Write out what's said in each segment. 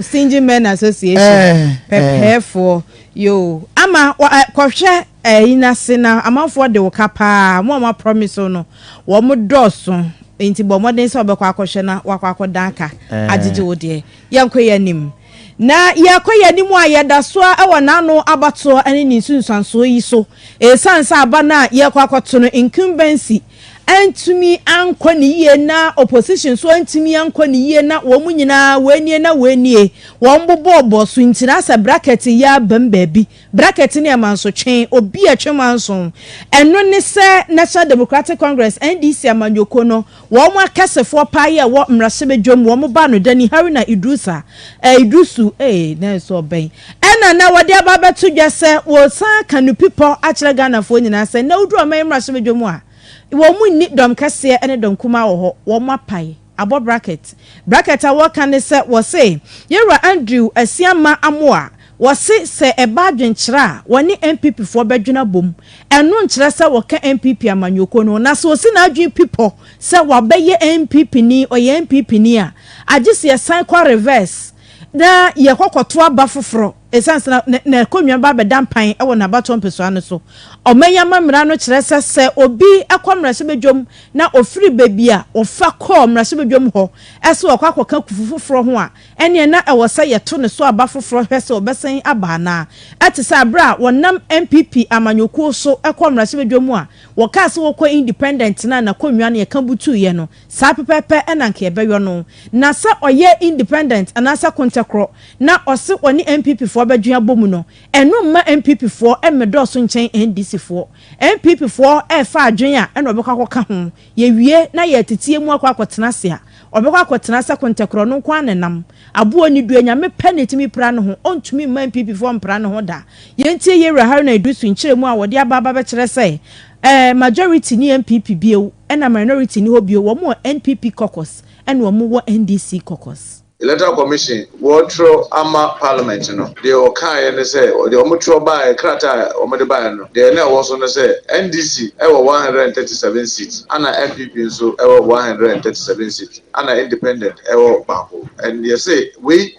Single Men Association pɛpɛɛfoɔ yoo ama kɔhwɛ ɛyi n'ase na amanfoɔ de wo ka paa wɔn a wɔn promise wo no wɔn dɔɔso nti bɔ mmɔden sɛ ɔbɛkɔ akɔhwɛ na wakɔ akɔdan ka agyegye wo deɛ yɛnkɔ yɛn anim na yɛkɔ yɛn anim a yɛda so a ɛwɔ n'ano abatoɔ ne ne nsunsuansoɔ yi so ɛsan sɛ aba no a yɛkɔ akɔto no incumbency antumi ankɔ ne yie na opposition nso antumi ankɔ ne yie na wɔn nyinaa wei nie na wei nie wɔn bobɔɔ bɔ so nti na sɛ bracket yɛ abam baabi bracket ne ɛmansotwe obi a ɛtwe manso ɛno ne sɛ National Democratic Congress NDC amanyɔkuo no wɔn akɛsefoɔ paa yɛ ɛwɔ mmarahyɛbadwam wɔn ba no Dani Haruna Idrusa eh, Idrusu eh, na ɛsɛ ɔbɛn Ɛna na wɔde aba abɛto dwa sɛ wɔresan aka no pi pɔ akyerɛ Ghanafoɔ nyinaa sɛ nnɛ woduru ɔman mmarahyɛbadwa mu a, wɔn nni dɔm kɛseɛ ne dɔm kumaa wɔ hɔ, wɔn apae, abɔ bracket. Bracket a wɔka ne sɛ wɔse yɛn wura Andrew Asiamah Amoah, wɔse sɛ ɛba adwenkyerɛ a wɔne NPP foɔ bɛdwene abom, ɛno nkyerɛ sɛ wɔka NPP amanyɔkuo no ho, na sɛ ɔsi n'adwene pi pɔ sɛ wabɛyɛ NPPni, ɔyɛ NPPni a, agye sɛ yɛsan kɔ reverse. na yɛkɔ kɔto aba foforɔ, ɛsiane sɛ na n'akonnwa bɛba abɛda mpan wɔ n'abatoɔ mpɛsoa no so. Ɔman yi amammerɛ no kyerɛ sɛ, sɛ obi kɔ mmarahyɛbadwam na ɔfiri baabi a ɔfa kɔɔ mmarahyɛbadwam hɔ sɛ ɔrekɔ akɔka kufu foforɔ ho a, ɛnneɛ na ɛwɔ sɛ yɛto ne so aba foforɔ hwɛ sɛ ɔbɛsan aba anaa. Ɛte sɛ berɛ a wɔnam NPP amanyɔkuo so kɔɔ mmarahyɛbadwam a wɔkaa sɛ wɔrekɔ independent no a n'akonnwa no yɛka butuiɛ no. Saa pɛpɛɛpɛ na anka yɛbɛyɔ no. Na sɛ ɔyɛ independent anaasɛ Kontɛkorɔ na ɔse ɔne NPP foɔ bɛdwen abɔmu no, ɛno mma NPP foɔ mmedɔɔso nkyɛn NDC foɔ. NPP foɔ refa adwen a ɛna ɔbɛkɔ akɔka ho. Yɛwie na yɛteteɛ mu akɔ akɔtena ase a, ɔbɛkɔ akɔtena sɛ Kontɛkorɔ no nko ara na ɛnam. Aboɔ nni due, Nyame pɛ na ɛtumi pira ne ho, ɔntumi mma NPP foɔ mpira ne ho da. Yɛntie Yawura Haruna Iddrisu nkyerɛmu a wɔde aba aba bɛkyerɛ sɛ ɛɛ majority nni NPP bio ɛna minority nni hɔ bio, wɔn wɔ NPP caucus ɛna wɔn wɔ NDC caucus. Electoral Commission wɔɔtwerɛ ama Parliament no, deɛ ɔkaeɛ ne sɛ, deɛ wɔn twerɛ baeɛ, krataa a wɔn de baeɛ no, deɛ na ɛwɔ so ne sɛ, NDC wɔ one hundred and thirty seven seats, ɛna NPP nso wɔ one hundred and thirty seven seats. Ana independent ɛwɔ baako and yɛse wei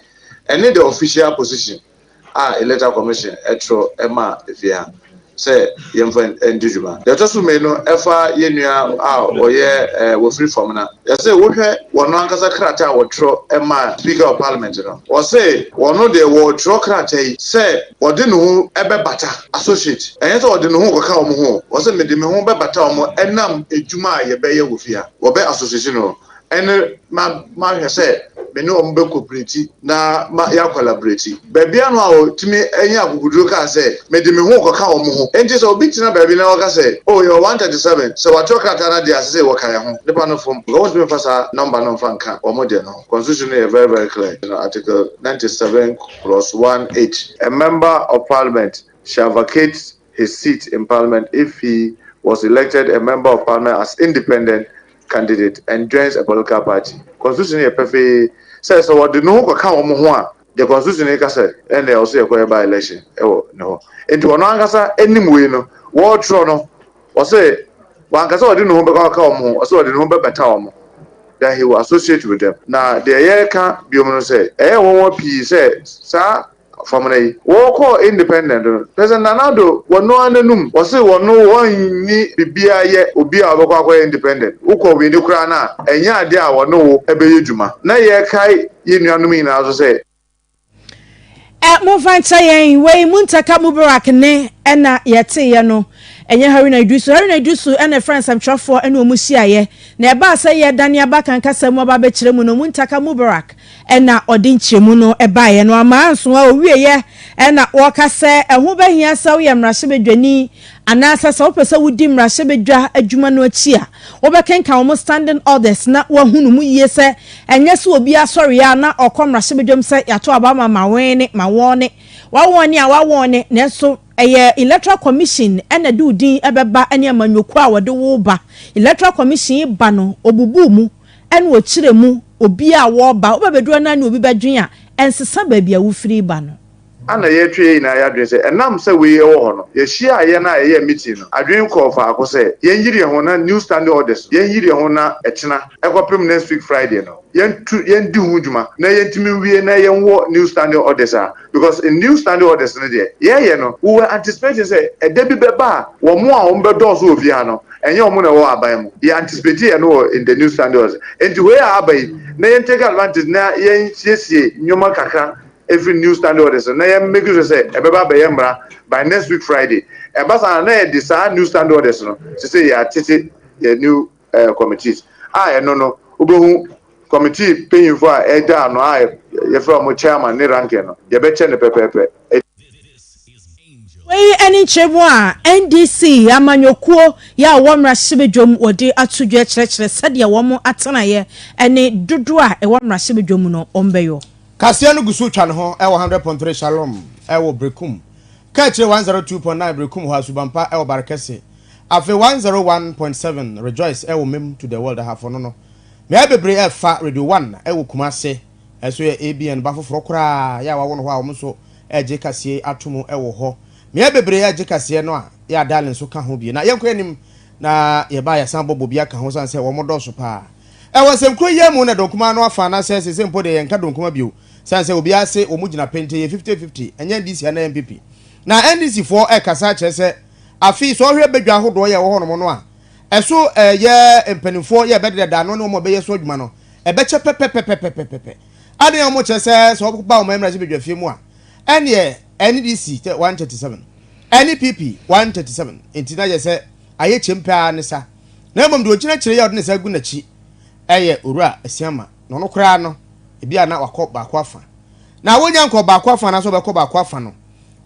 ɛne the official position a electoral commission ɛtwerɛ ɛma efie ha sɛ yɛnfa ɛndi dwuma. Deɛ ɛtɔ so mmienu ɛfa yɛn nua a ɔyɛ ɛɛ wɔfiri fam na yɛse wohwɛ wɔn ankasa krataa a wɔtwerɛ ɛma speaker of parliament no wɔse wɔn deɛ wɔretwerɛ krataa yi sɛ ɔde ne ho ɛbɛbata associate ɛnyɛ sɛ ɔde ne ho rekɔka wɔn ho wɔse mede me ho bɛbata wɔn ɛnam adwuma a yɛbɛyɛ wɔ fie ha. wɔbɛ asosesi no, ɛne ma mahwɛ sɛ me ne wɔn bɛkɔ piriti na ma yɛakɔ labreti. Baabi ano a ɔtumi anya akokoduro kaa sɛ, Mede me ho rekɔka wɔn ho. Enti sɛ obi tena baabi na ɔka sɛ, Oh, yɛwɔ one thirty seven, sɛ wɔatwerɛ krataa no adeɛ a, ɛsɛ sɛ wɔka yɛn ho. Nnipa no fom, because wɔntumi mfa saa nɔmba no mfa nka wɔn deɛ no ho. Constitution no yɛ very very clear, you know, Article ninety seven clause one eight. A member of parliament shall vacate his seat in parliament if he was elected a member of parliament as independent candidate and joins a political party. Constitution no yɛ pɛfee sɛ sɛ ɔde ne ho kɔka wɔn ho a, deɛ constitution no ka sɛ ɛnna ɔsɛ yɛkɔyɛ by election wɔ ne hɔ. Nti ɔno ankasa anim wei no, wɔretwerɛ no, ɔsɛ wanka sɛ ɔde ne ho bɛkɔ akɔka wɔn ho, ɔsɛ ɔde ne ho bɛbɛta wɔn, then he will associate with them. Na deɛ yɛreka biom no sɛ, ɛyɛ nwonwa pii sɛ saa Fam na yi. Wɔkɔɔ independent no nɛsɛ Nana Addo wɔno ara nanum wɔse wɔno wɔnni biribiara yɛ obi a ɔbɛkɔ akɔyɛ independent wokɔ wini koraa no a ɛnyɛ adeɛ a wɔne wo bɛyɛ dwuma na yɛkae yɛn nuanom nyinaa nso sɛ Ɛ momfa nkyɛ yɛn wei Muntaka Mubarak nne na yɛteeɛ no ɛnyɛ Haruna Iddrisu Haruna Iddrisu na ɛfrɛɛ nsɛmtwerɛfoɔ ne wɔn hyiaeɛ na ɛbaa sɛ yɛdane aba kankasa mu aba abɛkyerɛ mu no Muntaka Mubarak na ɔde nkyerɛmu no baeɛ no ama anso a ɔwieɛ na ɔreka sɛ ɛho bɛhia sɛ woyɛ mmarahyɛbadwani anaasɛ sɛ wopɛ sɛ wodi mmarahyɛbadwa adwuma no akyi a, wobɛkenkan wɔn standing orders na woahunu mu yie sɛ ɛnyɛ sɛ obiara sɔreeɛ ara na ɔkɔ mmarahyɛbadwam sɛ yɛato aba ma Mawɔɔne, Mawɔɔne, Wawɔɔne a Wawɔɔne nanso ɛyɛ Electoral Commission na ɛde wo din bɛba ne amanyɔkuo a wɔde wo ba. Electoral Commission ba no, ɔbubuu mu. ɛna ɔkyerɛ mu obi a wɔreba, wobɛbɛduru a na ne obi bɛdwen a, ɛnsesa baabi a wofiri reba no. A na yɛretwe yɛn nyinaa yɛ adwene sɛ ɛnam sɛ wei wɔ hɔ no, yɛhyiaa yɛn a yɛyɛɛ meeting no, adwene kɔɔ faako sɛ yɛnyere yɛn ho na new standing orders no, yɛnyere yɛn ho na ɛkyena ɛkɔpem next week Friday no, yɛnto, yɛndi ho dwuma na yɛntumi nwie na yɛnwɔ new standing orders a. Because New Standing Orders no deɛ, yɛɛyɛ no, we were anticipating sɛ ɛda bi bɛba a wɔn a wɔn bɛdɔɔso wɔ fie ha no, ɛnyɛ wɔn na ɛwɔ aban mu. Yɛ anticipateeɛ no wɔ in the New Standing Orders. Enti wei a aba yi, na yɛn take advantage na yɛn siesie nneɛma kakra ɛfiri New Standing Orders no, na yɛn make sure sɛ ɛbɛba abɛyɛ mmara by next week Friday. Ɛba saa a, na yɛde saa New Standing Orders no, sesei yɛatete yɛn New. eh, committees a ɛno no wobɛhu committee panyinfo a ɛda ano a yɛfrɛ wɔn chairman ne ranking no yɛbɛkyɛ no pɛpɛɛpɛ Wei ne nkyerɛmu a NDC amanyɔkuo yɛ a wɔn mmarahyɛbadwam wɔde ato dwa kyerɛkyerɛ sɛdeɛ wɔn atenaeɛ ne dodoɔ a ɛwɔ mmarahyɛbadwam no wɔn bɛyɔ. Kaseɛ no gu so twa ne ho wɔ 100.3 Shalom wɔ Berekum, Kakyire 102.9 Berekum hɔ a, Subanpa wɔ Barekɛse, Afe one zero one point seven rejoice ɛwɔ mem to the world ahafo no no mmeae bebree ɛfa radio one ɛwɔ kumase ɛso yɛ ABN ba foforɔ koraa yɛ a wawo no hɔ a wɔn nso ɛgye kaseɛ yi ato mu ɛwɔ hɔ mmeae bebree ɛgye kaseɛ no a yɛ a dial nso ka ho bi na yɛnkɔ anim na yɛ ba yɛsan bɔ bobi aka ho san sɛ wɔn dɔɔso paa ɛwɔ nsɛmkuro yi mu na donkuma no afa na sɛ sese mpo deɛ yɛnka donkuma bio san sɛ obiara se wɔn gyina pente yɛ fifty fifty ɛnyɛ NDC anaa NPP na NDC foɔ ɛkasa kyerɛ sɛ Afei sɛ ɔhwɛ badwa ahodoɔ yɛ ɛwɔ hɔnom no a, ɛso ɛyɛ mpanimfoɔ yɛ ɛbɛdeda ano ne wɔn a ɛbɛyɛ so adwuma no ɛbɛkyɛ pɛpɛpɛpɛpɛpɛpɛ. Adɛn a wɔn kyɛ sɛ sɛ wɔba wɔn mmarahyɛ badwafie mu a ɛneɛ NDC 137 ɛne PP 137 nti na yɛ sɛ ayɛ kyɛm pɛ ara ne sa na mmom deɛ ɔgyina akyire yi a ɔde ne sa gu n'akyi ɛyɛ Owura Asiamah na ɔno koraa no ebi a na wakɔ baako afa na wɔnya nkɔ baako afa anaasɛ ɔbɛkɔ baako afa no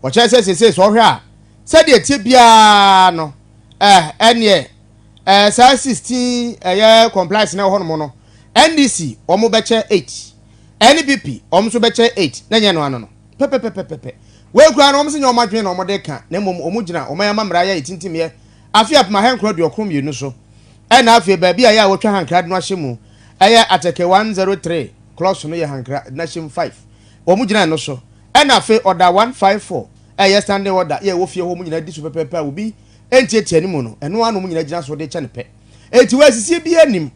wɔkyɛ sɛ sesei sɛ ɔhwɛ a Sɛdeɛ ɛteɛ biara no, eh, ɛnneɛ, eh, saa 16 ɛyɛ compliance na ɛwɔ hɔnom no, NDC wɔn bɛkyɛ 8, NPP wɔn nso bɛkyɛ 8, na ɛnyɛ ɛno ano no pɛpɛpɛpɛpɛ. Wei koraa no, wɔn se nyɛ wɔn adwene na wɔn de reka, na mmom wɔn gyina wɔn amammara yɛ etintimyɛ afe apem ahankron aduokron mmienu so, ɛna afei baabi a ɛyɛ a wɔtwa hankra de no ahyɛ mu, ɛyɛ atɛkɛ 103 clocks no yɛ hankra de no ahyɛ mu 5, wɔn gyina ɛno so, ɛna afei ɔda 154. Ɛyɛ standing order yɛ ɛwɔ fie hɔ mu nyinaa di so pɛpɛɛpɛ a obi ntiatia ne mu no, ɛno ara na wɔn nyinaa gyina so de kyɛ no pɛ. Enti wɔansisie biara nnim.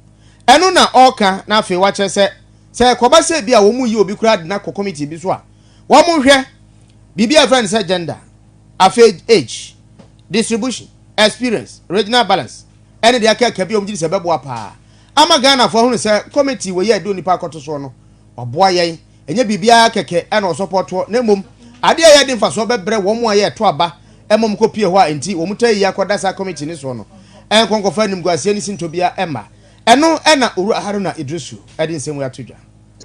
Ɛno na ɔreka na afei wakyerɛ sɛ, sɛ ɛkɔba sɛ ebia wɔyi obi koraa de no akɔ committee bi so a, wɔnhwɛ biribi a yɛfrɛ no sɛ gender, afei age, distribution, experience, regional balance, ɛne deɛ akaaka bi a wɔgye di sɛ ɛbɛboa paa ama Ghanafoɔ ahunu sɛ committee wei a yɛde onipa akɔto soɔ no, ɔboa yɛn. Ɛnyɛ biribiara kɛkɛ na ɔsɔpɔ toɔ, na mmom adeɛ a ɛyɛ de mfasoɔ bɛbrɛ wɔn a yɛ ɛto aba ma wɔn kɔ pie hɔ a enti wɔn taa yi akɔ da saa committee no soɔ no nkɔ nkɔfa animguaseɛ ne sintɔ biara mma. Ɛno na Owura Haruna Iddrisu de nsɛm wei ato dwa.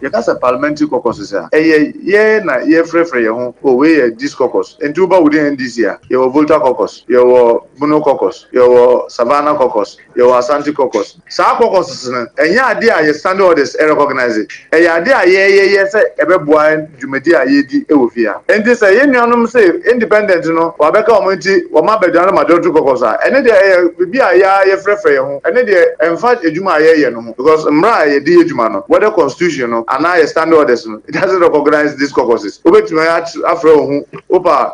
Yɛka sɛ parliamentary caucuses a, ɛyɛ yɛ na yɛrefrɛfrɛ yɛn ho, oh wei yɛ this caucus, enti woba within NDC a, yɛwɔ Volta caucus, yɛwɔ Bono caucus, yɛwɔ Savannah caucus, Yɛwɔ Asante caucus. Saa caucuses no, ɛnyɛ ade a yɛn standing orders recognise. Ɛyɛ ade a yɛyɛyɛ sɛ ɛbɛboa yɛn dwumadi a yɛredi wɔ fie ha. Enti sɛ yɛn nuanom se Independent no wɔabɛka wɔn nti wɔma Badwa no Majority caucus a, ɛno deɛ ɛyɛ biribi a yɛn ara yɛfrɛfrɛ yɛn ho. Ɛno deɛ ɛmfa adwuma a yɛreyɛ no ho because mmara a yɛde yɛ adwuma no, whether Constitution no anaa yɛn standing orders no, it doesn't recognise these caucuses. Wobɛtumi afrɛ wo ho wo pɛ a.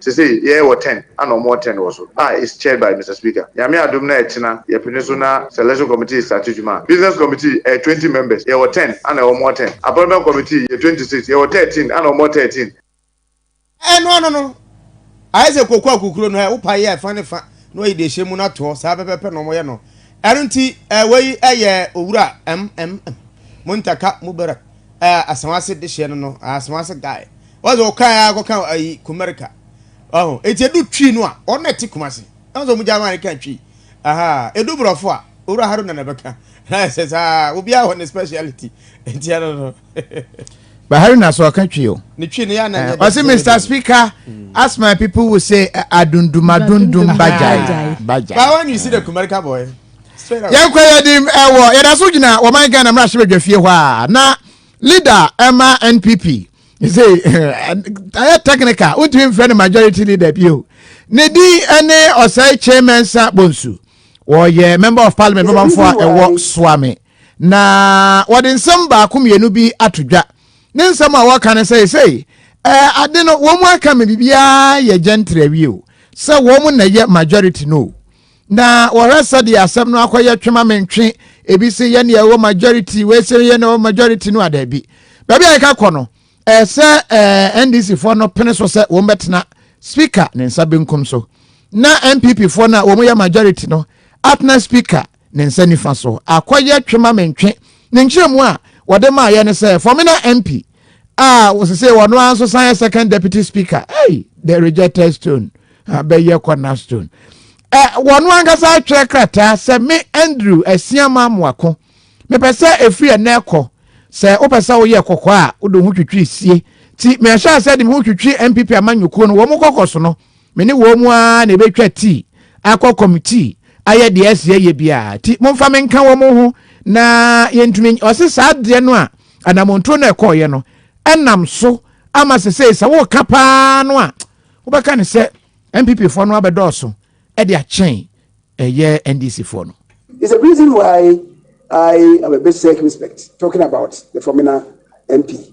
Sesei yɛɛ wɔ ten ana ɔmo wɔ ten wɔ so a is chaired by Mister Speaker. Nyame adom na ɛkyena yɛpene so na sɛ election committee starte dwuma a. Business committee ɛyɛ twenty members yɛ wɔ ten ana ɔmo wɔ ten. Appointment committee yɛ twenty six yɛ wɔ thirteen ana ɔmo wɔ thirteen. Ɛno ano no ayɛ sɛ koko akukuro no ɛ wo pae yɛ fa ne fa na wayi deɛ ɛhyɛ mu no atoɔ saa pɛpɛpɛ na ɔmo yɛ no ɛno nti ɛ wei ɛ yɛ owura ɛm ɛm ɛm Muntaka Mubarak ɛ Asawase dehyeɛ no no ɛ Asawase guy Ɔyɛ sɛ ɔkɔɛ ara kɔka ayi Kumarika. Ɔho. Eti edu Twi no a, wɔn na ɛte Kumasi. Ɛho sɛ wɔn gya wɔn ka Twi. Aha. Edu Borɔfo a, Owura Haruna na ɛbɛka. Ayɛ sɛ saa. Obiara wɔ ne speciality. Eti ɛno no. But Haruna so ɔka Twi o. Ne Twi no yɛ na nyɛ. Ɔsi Mr Speaker, as my people will say, adundum adundum bajai bajai. But when you see the Kumarika boy. Yɛn kɔ yɛ di ɛwɔ yɛda so gyina wɔn Ghana mmarahyɛbadwafie hɔ a na leader ɛma NPP. ɛsɛ ɛyɛ technical wontumi mfrɛ no majority leader bio ne din ɛne ɔsɛe kyemensa bonsu wɔyɛ member of parliament bɛbamfo a ɛwɔ soame na wɔde nsɛm baako mmienu bi ato dwa ne nsɛm a wɔka no sɛ ɛsɛ ade no wɔn mu aka me biribiara yɛ gentry awie o sɛ wɔn na ɛyɛ majority no na wɔhwɛ sɛdeɛ asɛm no akɔyɛ twema me ntwe ebi se yɛ neɛ ɛwɔ majority wei se yɛ neɛ ɛwɔ majority no adaabi baabi a yɛka kɔ no ɛɛ sɛ ɛɛ ndc foɔ no pene so sɛ wɔn bɛtena speaker ne nsa benkum so na npp foɔ no a wɔn yɛ majority no atena speaker ne nsa nifa so akɔyɛ twema me ntwe ne nkyerɛmu a wɔde maa yɛ ne sɛ fɔmina mp a wɔsese wɔn ara nso san yɛ second deputy speaker hey the rejected stone abɛyɛ corner stone ɛ wɔn ankasa atwerɛ krataa sɛ me andrew asiama moako mepɛ sɛ efiri ɛnɛ kɔ sɛ wopɛ sɛ woyɛ kɔkɔ a wode ho twitwi sie ti mehyɛ asɛ de me ho twitwi npp amanyɔkuo no wɔn kɔkɔ so no Me ne wɔn mu ara na ebetwa ti, akɔ kɔm ti, ayɛ deɛ ɛsɛ ɛyɛ biara. Ti momfa me nka wɔn ho na yɛntumi. Ɔse saa deɛ no a anamontuo no ɛkɔɔyɛ no ɛnam so ama sɛ sɛ sɛ woka paa no a wobɛka ne sɛ NPP foɔ no abɛdɔɔso ɛde akyɛn ɛyɛ NDC foɔ no. Is the reason why I am a bit circumspect talking about the Fomena MP.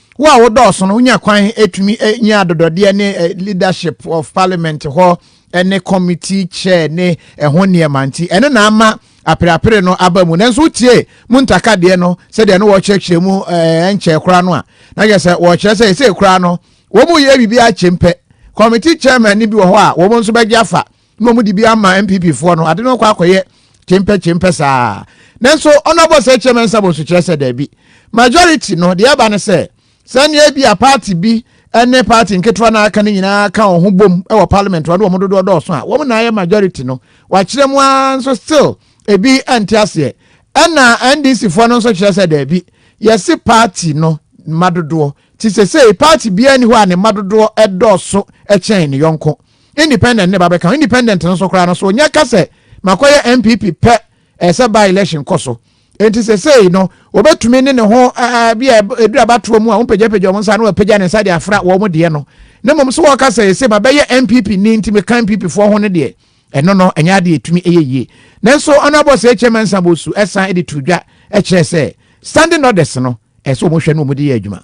Wo a wodɔɔso no, wonya kwan tumi nya adodɔdeɛ ne leadership of parliament hɔ ne committee chair ne ɛho nneɛma nti, ɛno na ama apereapere no aba mu. Nanso wotie mu ntaka deɛ no sɛdeɛ no wɔkyerɛkyerɛ mu ɛnkyɛɛ koraa no a, na yɛ sɛ wɔkyerɛ sɛ ɛsɛ koraa no wɔn yɛ biribi akyɛm pɛ. Committee chairman no bi wɔ hɔ a wɔn nso bɛgye afa na wɔn de bi ama npp foɔ no ade no kɔ akɔyɛ kyempɛ kyempɛ saa nanso ɔno abɔ sɛ kyerɛ mɛnsa bɔ so kyerɛ sɛ daabi majority no deɛ ɛba no sɛ sɛnea bi a party bi ɛne party nketewa na aka no nyinaa ka wɔn ho bom wɔ parliament wɔn de wɔn dodoɔ dɔɔso a wɔn na ayɛ majority no wakyerɛ mu ara nso still ebi ɛnte aseɛ ɛna ndc foɔ no nso kyerɛ sɛ daabi yɛsi party no mma dodoɔ ti sɛ sɛ party biara ni hɔ a ne mma dodoɔ ɛdɔɔso ɛkyɛn ne yɔnko. independent ne ba bɛka ho independent no so koraa no so ɔnya ka sɛ makɔyɛ npp pɛ ɛsɛ ba election kɔ so nti sɛsɛyi no wɔbɛtumi ne ne ho bi a ɛduru abatoɔ mu a wɔmpagyapagya wɔn nsa na wɔapagya ne nsa de afra wɔn deɛ no na mmom sɛ wɔka sɛ ɛsɛ mabɛyɛ npp ni nti meka npp foɔ ho no deɛ ɛno no ɛnyɛ adeɛ ɛtumi ɛyɛ yie nanso ɔnabɔ sɛ ɛkyɛ mansa bɔ su ɛsan de to dwa ɛkyerɛ sɛ standing orders no ɛsɛ wɔn hwɛ no wɔn de yɛ adwuma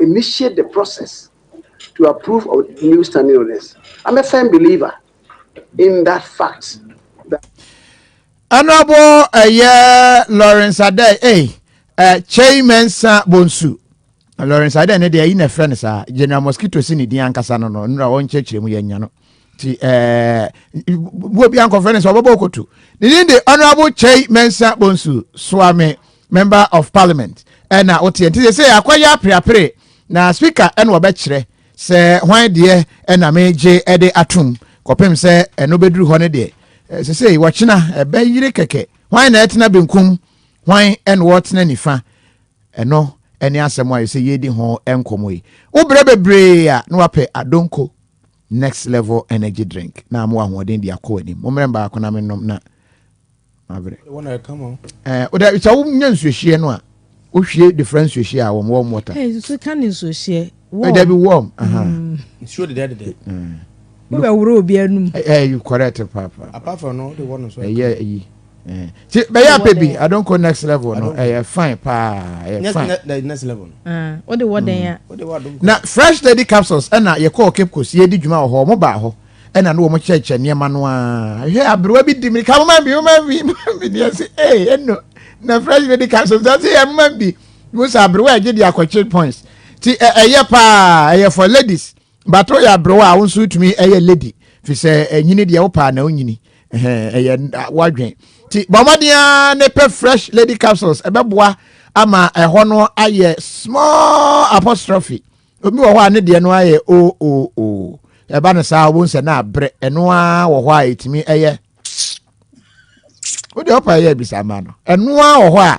initiate the process to approve of the new standing orders. I'm a firm believer in that fact. That Honorable uh, Lawrence Adey, hey, uh, Chey Mensa Bonsu. Lawrence Adey, ne deɛ yi na ɛfrɛ no saa General Mosquito si ne din ankasa no no nnura wɔnkyerɛkyerɛ mu yɛnya no ti ɛɛ wo bi ankɔfrɛ ne sɛ ɔbɛbɔ koto ne din de honourable kyɛi mɛnsa bonsu soame member of parliament ɛna woteɛ nti sɛ sɛ akɔyɛ apreapre na speaker ɛna ɔbɛkyerɛ sɛ hwan deɛ ɛna megye ɛde atom kɔpem sɛ ɛno bɛduru hɔ no deɛ sɛ sɛ wɔkyena ɛbɛyere kɛkɛ hwan na ɛtena benkum hwan ɛna wɔtena nifa Ɛno ne asɛm a ɛsɛ yɛdi ho nkɔmmɔ yi. Wobrɛ bebree a na wapɛ Adonko Next Level Energy Drink na ama ahoɔden de akɔ w'anim. Mommrɛ baako na mennom na mabrɛ. Wodɛ sɛ wonya nsuohyeɛ no a, wohwie de fra nsuohyeɛ a wɔm wɔm wɔta. Nsuo ka ne nsuohyeɛ. warm. Dabi warm. Mm. Nsuo deda deda. Mm. Wo bɛ woro obi anum. Ɛɛ eh, eh, you correct papa. Apart from no, the one nso. Ɛyɛ ayi. Ti bɛyɛ apɛ bi adonko next level no ɛyɛ fine paa ɛyɛ fine. Next level no. Ah, o de wɔ dɛn ya. Mm. Na fresh lady capsules ɛna yɛ kɔɔ cape coast yɛ di dwuma wɔ hɔ ɔmo baa hɔ ɛna no wɔn kyerɛkyerɛ nneɛma no aa hwɛ aberewa bi di mi ka mo ma bi mo ma bi mo ma bi ni ɛsi ee ɛno na fresh lady capsules ɛsi yɛ mo ma bi. Mo sɛ aberewa a ɛgye de akɔkyere points ti ɛ ɛyɛ paa ɛyɛ for ladies but woyɛ aberewa a wo nso wotumi ɛyɛ lady fi sɛ ɛnyini deɛ wopaa na wonyini ɛyɛ wadwen ti bɔ mmɔden a ne pɛ fresh lady capsules ɛbɛboa ama ɛhɔ no ayɛ small apostrophe obi wɔ hɔ a ne deɛ no ayɛ o o o ɛba no saa wɔn sɛ na abrɛ ɛno ara wɔ hɔ a ɛtumi ɛyɛ wodeɛ wopa ɛyɛ abisa ama no ɛno ara wɔ hɔ a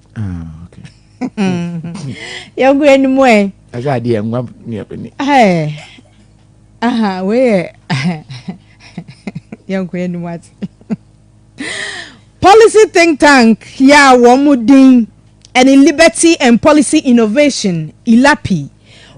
Ah, okay. Yɛgu anim ɛ. Ɛsɛ adeɛ nwa ne ɛbɛni. Aha, wei yɛ yɛnko anim ate. Policy think tank yɛ a wɔn din ɛne Liberty and Policy Innovation, ILAPI.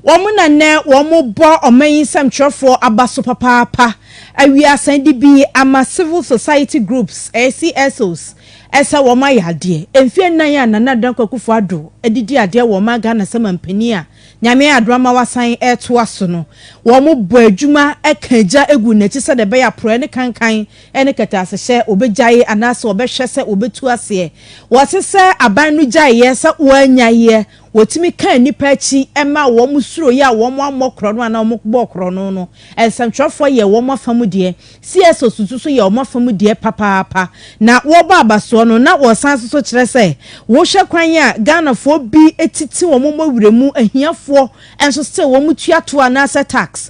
Wɔn na nnɛ wɔrebɔ ɔman yi nsɛmtwerɛfoɔ aba so papaapa, awie asan de bi ama Civil Society Groups, ɛyɛ CSOs, sɛ wɔayɛ adeɛ. Mfeɛ nnan a Nana Dankwa Akufo Addo de di adeɛ wɔ ɔman Ghana sɛ manpanin a Nyame ayɛ adom ama wasan retoa so no, wɔbɔ adwuma ka agya gu n'akyi sɛdeɛ ɛbɛyɛ a porɔeɛ ne kankan ne kɛtɛasehyɛ wɔbɛgyae anaasɛ wɔbɛhwɛ sɛ wɔbɛtu aseɛ. Wɔse sɛ aban no gyaeɛ sɛ wɔanyaeɛ, Wɔtumi kaa nnipa akyi maa wɔn suroeɛ a wɔammɔ korɔno anaa wɔbɔɔ korɔno no. Nsɛntwerɛfoɔ yɛɛ wɔn afa mu deɛ. CSOs nso so yɛɛ wɔn afa mu deɛ papaapa. Na wɔrebɔ abasoɔ no, na wɔsan nso so kyerɛ sɛ wohwɛ kwan a, Ghanafoɔ bi titi wɔn mmɔ werɛ mu ahiafoɔ nso still wɔtua toɔ anaasɛ tax.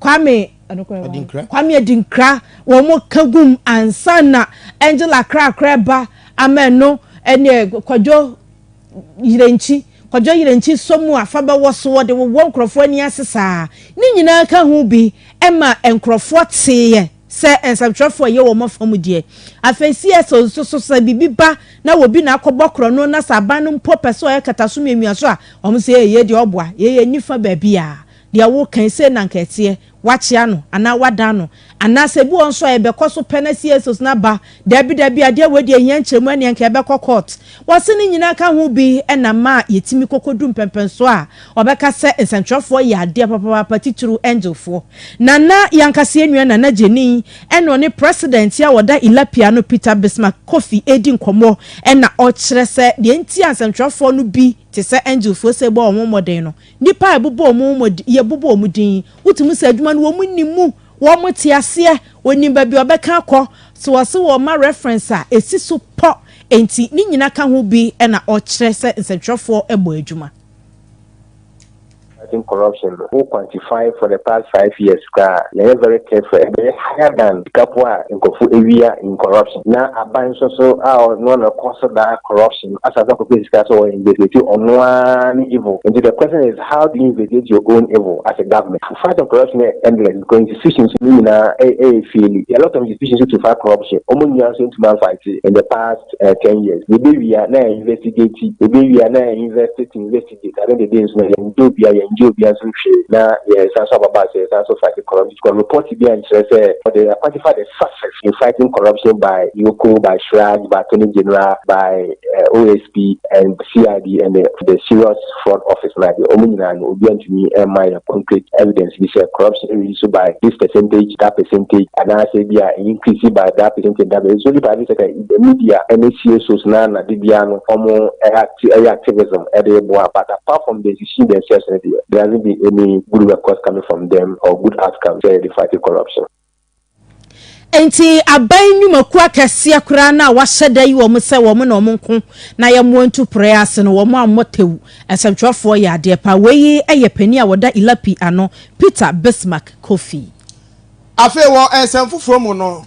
Kwame Adinkra. Kwame Adinkra wɔn ka gum ansa na Angela Krakra ɛba ama ɛno ɛneɛ Kwadwo Yerenkyi Kwadwo Yerenkyi sɔ mu a fa bɛwɔ so wɔde wowɔ nkorɔfoɔ ani ase saa ne nyinaa ka ho bi ɛma nkorɔfoɔ teeɛ sɛ nsɛmtwerɛfoɔ ɛyɛ wɔn afa mu deɛ afei CS nso so sɛ biribi ba na wɔbi na akɔbɔ korɔno na sɛ aban no mpo pɛ sɛ ɔyɛ kataso miamia so a wɔn sɛ ee yei deɛ ɔboa yei yɛnni fa baabi a Deɛ woreka yi, sei na anka ɛteɛ, woakyea no anaa woadan no? Anaasɛ ebi wɔ hɔ nso a yɛbɛkɔ so pɛ na CSOs no aba, Dabi, dabi, adeɛ wei deɛ ɛhia nkyerɛmu, ɛnneɛ anka yɛbɛkɔ court. Wɔse ne nyinaa ka ho bi na ma yɛtumi kɔkɔdu mpɛnpɛnsoɔ a wɔbɛka sɛ nsɛntwerɛfoɔ yɛ adeɛ papaapa, titiriw Angelfoɔ. Nana, yɛn ankasa yɛn nua Nana Gyani, ɛna ɔne President a ɔda Ilapia ano, Peter Bismarck Kofi redi nkɔmmɔ na ɔkyerɛ sɛ deɛ nti a nsɛntwerɛfoɔ no bi te sɛ Angelfoɔ sei bɔ wɔn ho mmɔden no, Nnipa a yɛbobɔ wɔn wɔn din, yɛbobɔ wɔn din, wotumi hu sɛ adwuma no wɔn nim mu, wɔte aseɛ, wɔnim baabi a wɔbɛka akɔ. So wɔse wɔma reference a, ɛsi so pɔ. Enti ne nyina ka ho bi na ɔkyerɛ sɛ nsɛntwerɛfoɔ bɔ adwuma. Fighting corruption no wo quantify for the past five years koraa a, yɛyɛ very careful, ɛbɛyɛ higher than sika po a nkurɔfo awia in corruption. Na aban nso so a ɔno na ɛkɔ so daa corruption. So na asase akɔ pɛ sika so wɔ investigate ɔno ara ne evil nti the question is how do you investigate your own evil as a government the fight on corruption yɛ endless because institutions no nyinaa ɛyɛ faili there are lot of institutions to fight corruption wɔn nyinaa nso ntumi anfight in the past ten years yɛbɛwie a na yɛ investigate yɛbɛwie a na yɛ invest to invest. Gyedzi ne dede nso na yɛnndɔ obia, yɛnngye obia nsom hwee, na yɛsan so ababaa sɛ yɛsan so fight corruption because report bia nnkyerɛ sɛ wɔde akwagye fa the success in fighting corruption by Yoko, by Shrag, by Attorney General, by OSP and CID and the Serious Fraud Office no ade. Wɔn nyinaa no obia nntumi mma yɛn concrete evidence bi sɛ corruption reduce so by this percentage, that percentage, anaasɛ ebia increase by that percentage, that percentage. It's only private sector. The media ne fie shows no ara na de biara no ɔmo acti ɛyɛ activism de reboa but apart from the decision themselves no deɛ there hasn't been any good records coming from them or good outcomes sɛ yɛde fight corruption. Enti aban nnwumakuo akɛseɛ koraa no a wɔahyɛ da ayi wɔn sɛ wɔn na wɔn nko na yɛmmoa ntu porɔeɛ ase no wɔn ammɔ tɛwu. Nsɛmtwerɛfoɔ yɛ adeɛ pa. Wei yɛ panin a ɔda ILAPI ano, Peter Bismarck Kofi. Afei wɔ nsɛm foforɔ mu no,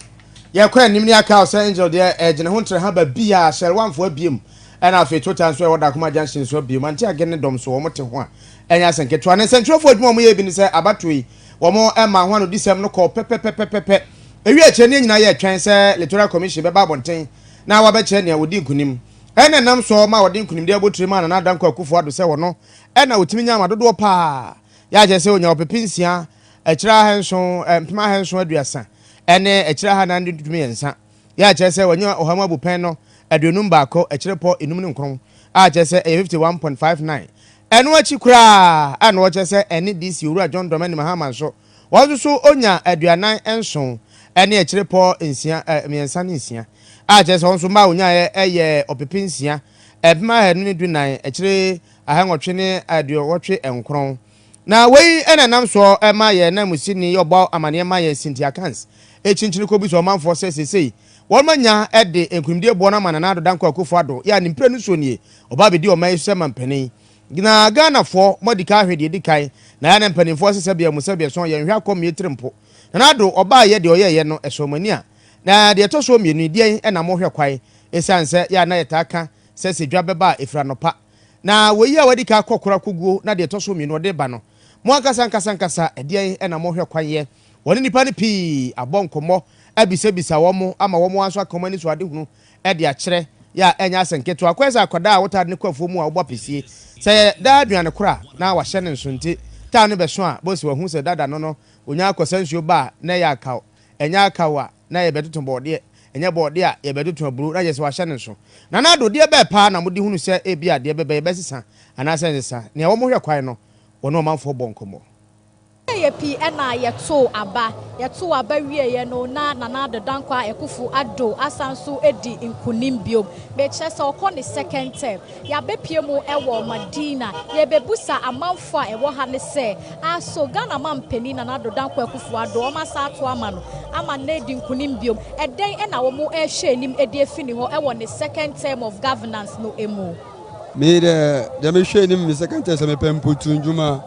yɛkɔ anim ne yɛaka sɛ Angel deɛ ɛgyina ho ntrɛ ha ba bi a Shell Wanfo abiem ɛna afei Total nso a ɛwɔ Dakoma Junction nso abiem. Antiage ne dɔm nso wɔn te ho a ɛnyɛ asɛm ketewa. Ne nsɛntwerɛfoɔ adwuma a wɔn yɛ bi ne sɛ abatoɔ yi wɔn maa ho anodisɛm no kɔɔ pɛpɛpɛpɛpɛpɛ. Ɛwiee akyire no yɛn nyinaa yɛretwɛn sɛ Litoral Commission bɛba abɔnten na wɔabɛkyerɛ nea wɔdii nkunim. Ɛna ɛnam soɔ maa wɔde nkunimdie abotire maa Nana Dankwa Akufo Addo sɛ ɔno ɛna ɔtumi nyaa ma dodoɔ pa ara. Yɛakyerɛ sɛ ɔnyaa ɔpepe nsia akyire ahanson, mpem ahanson aduasa ne akyire ahanan ne du mmiɛnsa, yɛ a kyerɛ sɛ wɔanya ɔha mu abupɛn no aduonum baako akyire pɔ nnum ne nkron, a kyerɛ sɛ ɛyɛ fifty one point five nine. Ɛno akyi koraa a na wɔkyerɛ sɛ ɛne DC Owura John Dramani Mahama nso, wɔn nso so ɔnya aduanan nson ne akyire pɔ nsia, mmiɛnsa ne nsia, a kyerɛ sɛ wɔn nso mma a wɔnyaeɛ yɛ ɔpepe nsia, mpem ahanu ne du nnan akyire ahannwɔtwe ne aduowɔtwe nkron. Na wei na ɛnam soɔ ma yɛn nanmusini yi ɔbɔ amaneɛ ma yɛn Cynthia Kans kyinkyini kɔbisa ɔmanfoɔ sɛ seesei wɔn anya de nkunimdie boɔ no ama Nana Addo Dankwa Akufo Addo yɛ a ne mprenu soɔ nie ɔba abɛdi ɔman yi so sɛ mampanin Na Ghanafoɔ mo adi kan ahwɛ deɛ ɛdi kan na yɛn mpanimfoɔ se sɛbea mu sɛbea so yɛnhwɛ akɔ mmie tiri mpo Nana Addo ɔbaeɛ deɛ ɔyɛeɛ no ɛsɔɔ mo ani a na deɛ ɛtɔ soɔ mmienu yi deɛn na mohwɛ kwan ɛsiane sɛ yɛ a na yɛtaa ka sɛ sɛ dwa bɛba a ɛfiri anɔpa Na wei a wadi kan akɔ koro akoguo na deɛ ɛtɔ so mmienu ɔde reba no, mo ankasa ankasa ankasa ɛdeɛn na mohwɛ kwan yɛ? Wɔne nnipa no pii abɔ nkɔmmɔ abisabisa wɔn ama wɔn ara nso aka wɔn ani so adehunu de akyerɛ. Yɛ a ɛnyɛ asɛm ketewa. Kɔyɛ sɛ akwadaa a wotade no kɔ afuo mu a wobɔ apesie. Sɛ ɛyɛ daa aduane koro a na wahyɛ no nso nti, taa no bɛso a, bose wahu sɛ dada no no, ɔnya akɔsa nsuo ba a na ɛyɛ akaw. Ɛnyɛ akaw a. na yɛbɛtoto bɔɔdeɛ, ɛnyɛ bɔɔdeɛ a yɛbɛtoto aburo na kyerɛ sɛ wɔahyɛ no nso. Nana Addo, deɛ bɛn paa na mode hunu sɛ ebia deɛ bɛbɛyɛ bɛsesa anaasɛ ɛnsesa? Nea wɔhwɛ kwan no, wɔne ɔmanfoɔ bɔɔ nkɔmmɔ. Yɛyɛ pii na yɛtoo aba. Yɛtoo aba wieeɛ no, na Nana Addo Dankwa Akuffo Addo asan nso adi nkunim biom. Mekyerɛ sɛ ɔkɔ ne second term. Yɛabɛpue mu wɔ Madina. Yɛrebɛbusa amanfoɔ a ɛwɔ ha no sɛ, Aso Ghana Mampanin Nana Addo Dankwa Akuffo Addo wɔn asan ato ama no ama no adi nkunim bio? Ɛdɛn na wɔn rehwɛ anim de afi ne hɔ wɔ ne second term of governance no mu? Me dɛ, deɛ mehwɛ anim me second term sɛ mepɛ mputu ndwuma.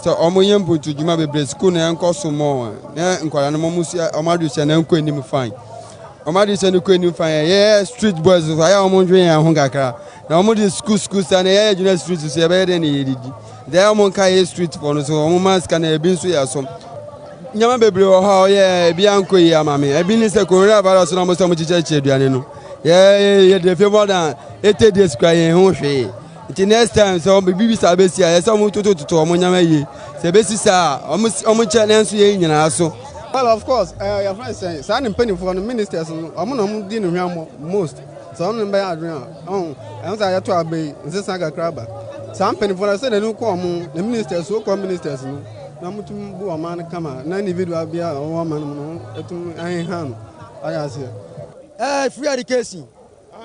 Sɛ wɔn yɛ mputu dwuma bebree, sukuu no ɛnkɔ so more, na nkwadaa no wɔn sua wɔn adwesua no ɛnkɔ anim fine. Wɔn adesua no kɔ anim fann. Yɛyɛ street boys nso, ayɛ a wɔndwen yɛn ho kakra. Na wɔde school school saa na yɛyɛ gyina street so yɛbɛyɛ dɛn na yɛdidi. Nti ayɛ a wɔnka yɛ street fɔ no so wɔma sika na ebi nso yɛ asom. Nneɛma bebree wɔ hɔ a wɔyɛ ebi ankɔ yie ama me. Ebi ne sɛ coronavirus na wɔsɛ wɔkyekyɛkyekyɛ aduane no. Yɛde fie more than 80 days kura yɛn ho hwee. Nti next time sɛ ɔmo bibi saa besi a, yɛsɛ ɔmo totototo ɔmo nneɛma yie. Sɛ ebesi saa a, ɔmo ɔmo nkyɛ na ɛnso yɛn nyinaa so. Well of course, ɛɛ eh, yɛfrɛ sɛn saa ne mpanimfoɔ no ministers no, ɔmo na ɔmo di ne hwammɔ most. Sɛ ɔno ne bɛyɛ adwene a, ɔho ɛho sɛ ayɛto aba yi nsesa kakra aba. Saa mpanimfoɔ no sɛ n'ani kɔ ɔmo ne ministers, so kɔ ministers no na ɔmo tum bu ɔman no kama na individual bi a ɔwɔ ɔman no mu no ɛtum ɛheha no. Ayɛ aseɛ. Ɛɛ eh, free education.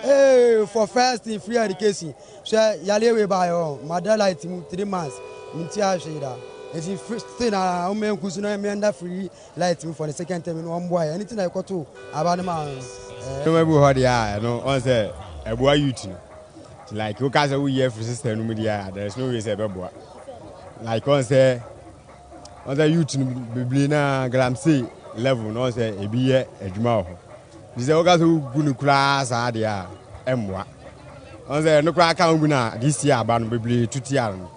Hey for first thing free education hwɛ yareɛ wei baayɛ hɔ mada light mu three months mentua hwee da nti still na ɔmɛ nku so na mɛ nda free light mu for the second time no ɔmboa yɛ ɛne ti na ɛkɔ to aba no ma no ɛnoma ebu hɔ deɛ a ɛno ɔn sɛ ɛboa youth no like woka sɛ woyi afiri system no mu deɛ a there is no way sɛ ɛbɛboa like ɔn sɛ Ɔn sɛ youth no bebree na galamsey level no ɔn sɛ ebi yɛ adwuma wɔ hɔ. Nti sɛ woka sɛ wogu no koraa saa deɛ a ɛmmoa. Ɔn sɛ ɛno koraa ka wogu no a this year aba no bebree to tia no.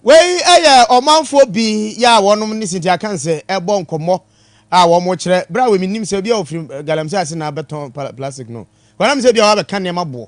Wei yɛ ɔmanfoɔ bi yɛ a wɔnom ne Cynthia Kansɛ ɛbɔ nkɔmmɔ a wɔn kyerɛ berɛ a wɔ mennim sɛ obi a ɔfiri galamsey ase na abɛtɔn plastic no. Wɔ na mesɛ ebi a wabɛka nneɛma boɔ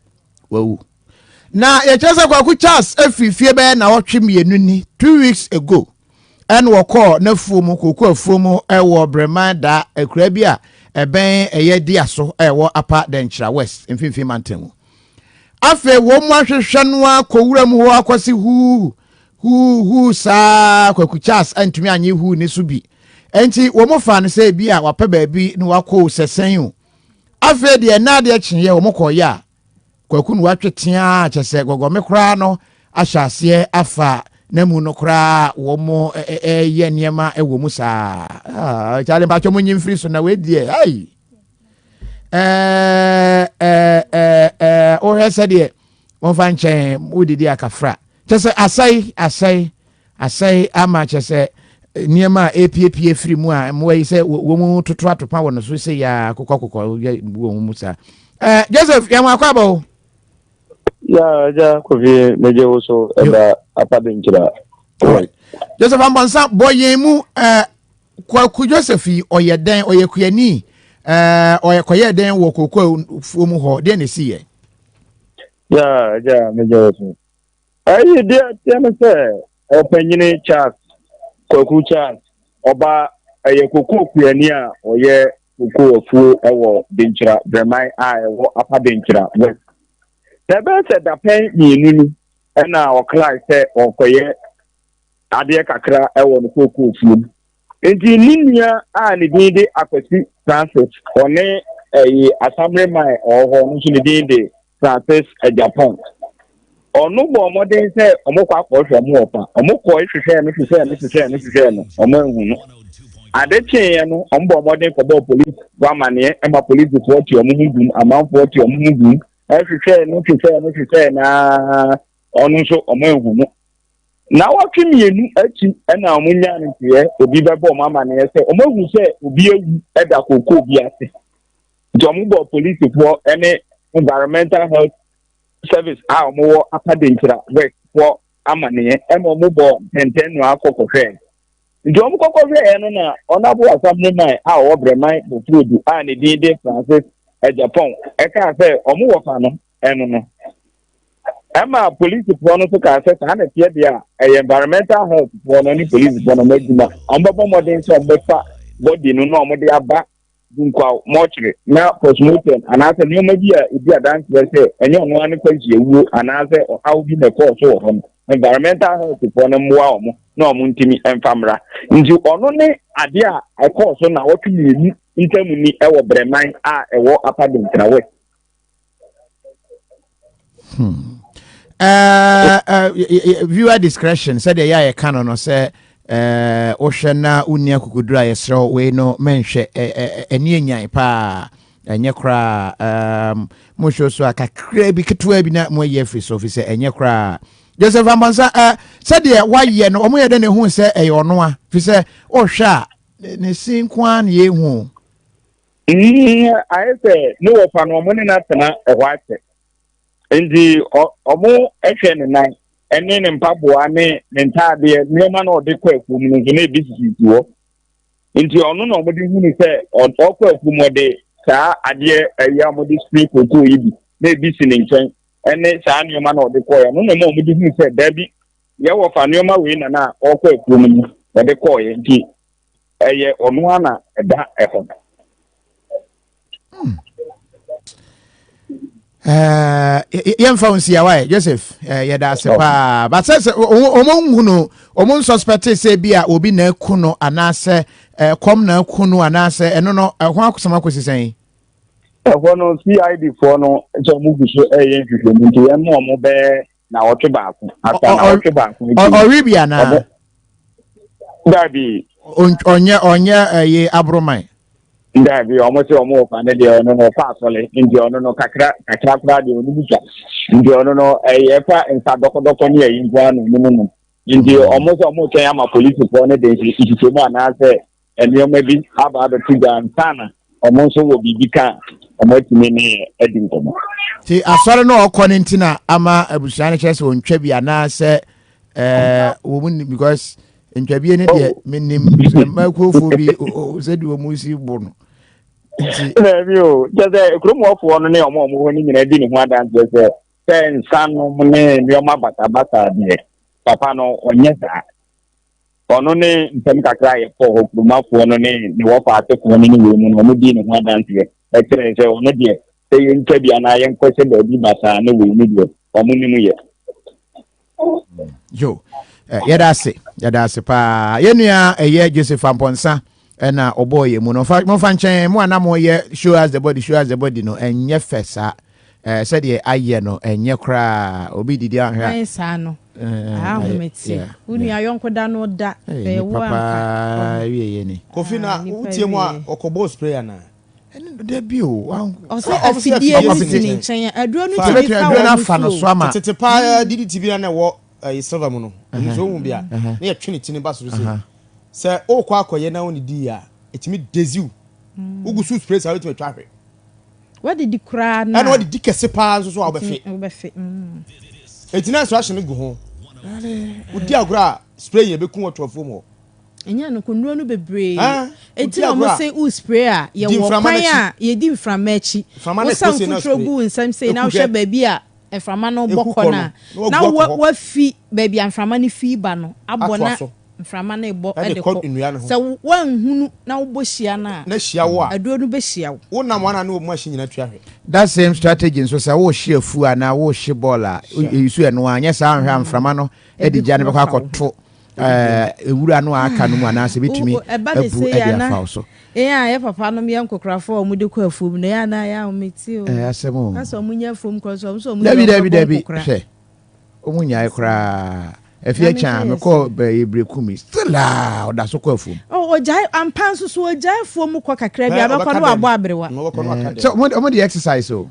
wawu na yɛkyerɛ sɛ kwaku charles afiri fie bɛyɛ na ɔtwe mmienu ni two weeks ago ɛna wɔkɔɔ n'afuo mu koko afuo mu ɛwɔ breman da akura bi a ɛbɛn ɛyɛ di aso ɛwɔ apa dɛnkyerɛ west mfimfini mantam mu afei wɔn mu ahwehwɛ no akɔwura mu hɔ akɔsi huu huu huu saa kwaku charles antumi anye huu ne so bi nti wɔn fa no sɛ ebi a wapɛ baabi na wakɔ sɛsɛn o afei deɛ ɛna adeɛ kyeeɛ wɔn kɔɔyɛ a kwaku no watwe teaa kyɛ sɛ gɔgɔme koraa no ahyɛ aseɛ afa n'amu no koraa wɔn ɛyɛ nneɛma wɔ mu saa ah, kyale mpatwɛ mo nyi mfiri so na wei deɛ ai wohwɛ sɛdeɛ wɔmfa nkyɛn wodidi akafra kyɛ sɛ asɛe asɛe Asɛe ama kyerɛ sɛ nneɛma a epiepie firi mu a mmoa yi sɛ wɔn toto atopa wɔ no so sɛ yɛ akokɔ kokɔ yɛ bu wɔn mu saa. Ɛɛ Joseph yɛn wɔn akɔ abɔ o. Yaa agya kofie megye wo so ɛda apa de nkyira. Joseph Ambɔnsa bɔ yɛn mu ɛɛ Kwaku Joseph yi ɔyɛ dɛn ɔyɛ kuani ɛɛ ɔyɛ kɔyɛ dɛn wɔ kokoa fuo mu hɔ deɛ na esi yɛ. Yaa agya megye wo so. Ɛyi deɛ ɛteɛ no sɛ ɔpanyini Charles Kwaku Charles ɔba ɛyɛ kokoo kuani a ɔyɛ kokoo afuo ɛwɔ Denkyira Brɛman a ɛwɔ Apa Denkyira West. Na ɛbɛyɛ sɛ dapɛn mmienu ni ɛna ɔkrae sɛ ɔrekɔyɛ adeɛ kakra ɛwɔ ne kokoo fuo mu. Enti ne nua a ne din de Akwasi Francis, ɔne ɛyi Asammere Mae ɔwɔ hɔ, no nso ne din de Francis Agyapong. Ɔno bɔɔ mmɔden sɛ wɔkɔ akɔhwɛ mo wɔ fa. Wɔkɔe hwehwɛɛ no, hwehwɛɛ no, hwehwɛɛ no, hwehwɛɛ no, wɔanhu no. Ade kyeeɛ no, wɔbɔɔ mmɔden kɔbɔɔ polisifo amanneɛ, ɛma polisifoɔ te wɔn ho gum, amanfoɔ te wɔn ho gum, ɛhwehwɛɛ no, hwehwɛɛ no, hwehwɛɛ no ara Ɔno nso wɔanhu no. Nnawɔtwe mmienu akyi na wɔnyaa no nteɛ, obi bɛbɔ wɔn amanneɛ sɛ wɔahu sɛ obi awu da kookoo bi ase. Nti wɔbɔɔ polisifoɔ ne Environmental Health Service a wɔwɔ Upper Denkyira West foɔ amanneɛ na wɔbɔɔ ntɛntɛnnoa kɔ kɔhwɛɛ. Nti wɔkɔkɔhwɛɛ no na Ɔnabo Asamoman a ɔwɔ Brɛman Bofurodu a ne din de Francis Agyapong kaa sɛ wɔwɔ fa no. ɛno no ɛma polisifoɔ no nso kaa sɛ saa na ɛteɛ deɛ a ɛyɛ environmental health foɔ no ne polisifoɔ no adwuma wɔbɛbɔ mmɔden sɛ wɔbɛfa bɔdi no na wɔde aba dunkwaw mɔkyere na postmortem anaasɛ nneɛma bi a ɛdi adanseɛ sɛ ɛnyɛ ɔno ara ne kwanhyia wuo anaasɛ ɔhaw bi na ɛkɔɔ so wɔ hɔ no environmental health foɔ no mmoa wɔn na wɔn ntumi mfa mmra nti ɔno ne adeɛ a ɛkɔɔ so na wɔtwe mmienu ntam ni ɛwɔ brɛman a ɛwɔ apadentrawɛ Hmm. Uh, uh, viewer discretion said the yɛ a yɛka no no sɛ eh, wohwɛ na wonni akokoduru a yɛserɛ wo wei no menhwɛ ɛne eh, anyan paa ɛnyɛ koraa um, mohwɛ so a kakraa bi ketewa bi na moayi afiri so fi sɛ ɛnyɛ koraa joseph amansa uh, sɛdeɛ woayɛ no ɔmoyɛ dɛ ne hu sɛ ɛyɛ ɔno a fi sɛ wohwɛ a ne si nko ara ne yɛhu Mm, ayɛ sɛ ne wɔfa no wɔn ne no atena ɛhɔ akyɛ nti wɔn hwɛ ne nan ne ne mpaboa ne ne ntaadeɛ nneɛma na ɔde kɔ afuo mu no nso na ebi sisisi hɔ nti ɔno na wɔde hunu sɛ ɔkɔ afuo mu ɔde saa adeɛ ɛyɛ a wɔde siri kokoo yi bi na ebi si ne nkyɛn ɛne saa nneɛma na ɔde kɔɛ ɔno na ɛma wɔde hunu sɛ daabi yɛwɔ fa nneɛma wei na na ɔkɔ afuo mu ɔde kɔɛ nti Ɛyɛ ɔno ara na ɛda hɔ. Hmm. Eh, yɛmfa wo nsia waɛ joseph eh, yɛda ase paa but sɛ sɛ ɔmo nhu no ɔmo nsuspɛte sɛ bi a obi na aku no anaasɛ eh, kɔm na aku no anaasɛ ɛno no ɛho akosɛm akɔsi sɛn ɛhɔ no cid foɔ no sɛ ɔmo gu so ɛyɛ nhwehwɛmu nti yɛn mu ɔmo bɛɛ naawɔtwe baako asa naawɔtwe baako akyi. Ɔwe bi anaa? Daabi. Ɔnyɛ ɔnyɛ ɛyɛ aboroman. Daabi ɔmo sɛ ɔmo wɔ fa ne deɛ ɔno no ɔfa asɔle nti ɔno no kakra kakra koraa deɛ ɔno mu twa nti ɔno no ɛyɛ fa nsa dɔkɔdɔkɔ ne ɛyi nkoa na ɔno mu nom nti ɔmo sɛ ɔmo kyɛn ama polisifoɔ ne de nhyehyɛ mu anaasɛ nneɛma bi aba abɛto gya ansa na wɔn nso wɔ biribi ka a wɔatumi ne yɛ adi nkɔmmɔ. Nti asɔre no ɔkɔ no nti na ama abusua no kyerɛ sɛ ɔntwa bi anaasɛ eh, wɔ mu nim because ntwabie no deɛ oh. menim sɛ makuofoɔ bi sɛdeɛ ɔmu si bo no nti daabi o kyɛ sɛ kurom ɔfoɔ no ne ɔma ɔmo hɔ no nyinaa di ne ho adanseɛ sɛ sɛ nsanom ne nneɛma basabasa deɛ papa no ɔnyɛ saa Ɔno ne ntɛm kakra a yɛkɔɔ hɔ, kuromafoɔ no ne ne wɔfa asefoɔ no ne wei mu no, wɔdii ne ho adanseɛ, ɛkyerɛɛ sɛ ɔno deɛ, sɛ yɛntwa bi anaa yɛnkɔhyɛ baabi basaa ne wei no deɛ, wɔnim yɛ. Yo, eh, yɛda ase, yɛda ase paa. Yɛnua ɛyɛ Joseph Ampɔnsa, ɛna ɔbɔɔ yɛ mu no fa momfa nkyɛn mo a na moyɛ show us the body show us the body no ɛnyɛ fɛ saa ɛɛ sɛdeɛ ayɛ no ɛnyɛ koraa obi didi ahwɛ a. ayɛ saa no ahomete wo nua yɔnko da no da ɛyɛ wo a papa wie yɛ ni. kofi na wotie mu a ɔkɔbɔ spray anaa. ɛne no da bi o. ɔsɛ afidie no si ne nkyɛn aduro no tumi fa wɔn no so ama. tete paa didi ti bi na ɛwɔ ɛyɛ silver mu no nso ohun bi a ne yɛ twene ti ne ba soro se sɛ wokɔ akɔyɛ na wone dii a, ɛtumi dezi wo. Wogu so spray saa wobɛtumi atwa ahwe. Wadidi koraa na. Ɛna wadidi kɛse paa nso so a wobɛfe. Wobɛfe. Eti na instruction no gu ho. Wodi agorɔ a spray yɛ bɛku wɔ tɔfoɔ mu hɔ. Ɛnyɛ no konuro no bebree. Eti na wɔn se wo spray a yɛwɔ kwan a yɛdi mframa akyi. Wosan foforɔ gu nsam sei na wohwɛ baabi a mframa no bɔ kɔ no a, na woafi baabi a mframa no fi ba no abɔ na mframa no rebɔ de kɔ. Sɛ woanhunu na wobɔ hyia no a, aduro no bɛhyia wo. That same strategy nso, sɛ worehye afuo anaa worehye bɔɔl a, you use ɛno ara, nyɛ saa a anhwɛ a mframa no de gya no bɛkɔ akɔto ewura no a aka no mu anaasɛ ebetumi abu de afa wo so. Yɛn a yɛ papa nom yɛ nkokorafo a wɔde kɔ afuom no, yɛ anaa yɛ a wɔmete o. Ɛyɛ asɛm o. Asɛ wɔn nyɛ afuom kɔ nso wɔn nso wɔn nyɛ wɔn bɛbɔ nkokora. Hwɛ, wɔn nyae koraa. Efi ɛkyɛn me kɔ bɛyɛ bere kumi still a ɔda so kɔ afuom. Ɔ oh, ɔgyae ampa nso so ɔgyae afuom kɔ kakra bi abɛkɔ no abɔ aberewa. Sɛ wɔn de exercise o.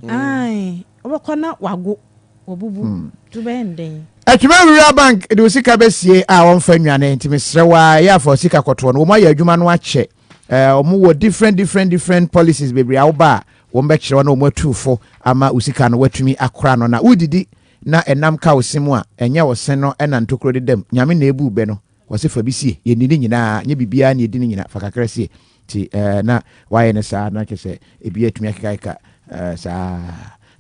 Wobɛkɔ na wago, wabubu. To bɛyɛ no dɛn? Atwima Rural Bank de wo sika bɛsie a wɔmfa nnwane nti mesrɛ wo a ɛyɛ afa wo sika kɔtoɔ no wɔn ayɛ adwuma no akyɛ wɔn wɔ different different different policies bebree a woba a wɔn bɛkyerɛ wɔn na wɔn atu fo ama wo sika no watumi akora no na wodidi na ɛnam ka wo se mu a ɛnyɛ ɔse no ɛna ntokuro dedam nyame na ebu bɛ no Ɔse fa bi sie, yɛ nni ne nyinaa, nyɛ biribiara na yɛdi ne nyinaa, fa kakra sie. Nti eh, na wayɛ no saa, na kyerɛ sɛ ebi atumi akekaeka eh, saa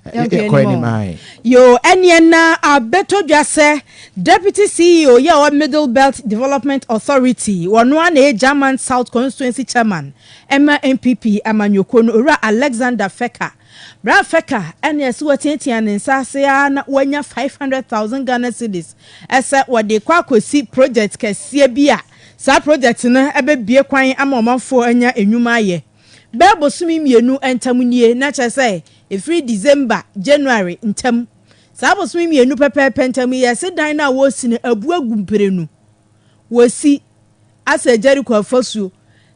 eh, Yɛnkɔ yɛkɔ anim anim o. ae. Yoo, ɛneɛ na abɛtɔ dwa sɛ Deputy CEO yi a ɔwɔ Middle Belt Development Authority, ɔno ara na ɛyɛ German South Constituency Chairman ma NPP amanyɔkuo no, Owura Alexander Fecker, Bere a Feka ne Asuwa teɛteɛɛ ne nsa ase ara na wɔanya 500,000 Ghana cedis sɛ wɔde rekɔ akosi projɛt kɛseɛ bi a saa projɛt no bɛbue kwan ama ɔmanfoɔ anya nnwuma ayɛ bɛyɛ bosome mmienu ntam nie, na kyerɛ sɛ ɛfiri December, January ntam. Saa bosome mmienu pɛpɛɛpɛ ntam yi, yɛse dan no a wɔresi no abu agu mprenu. Wɔsi. asɛe Jeriko afasuo,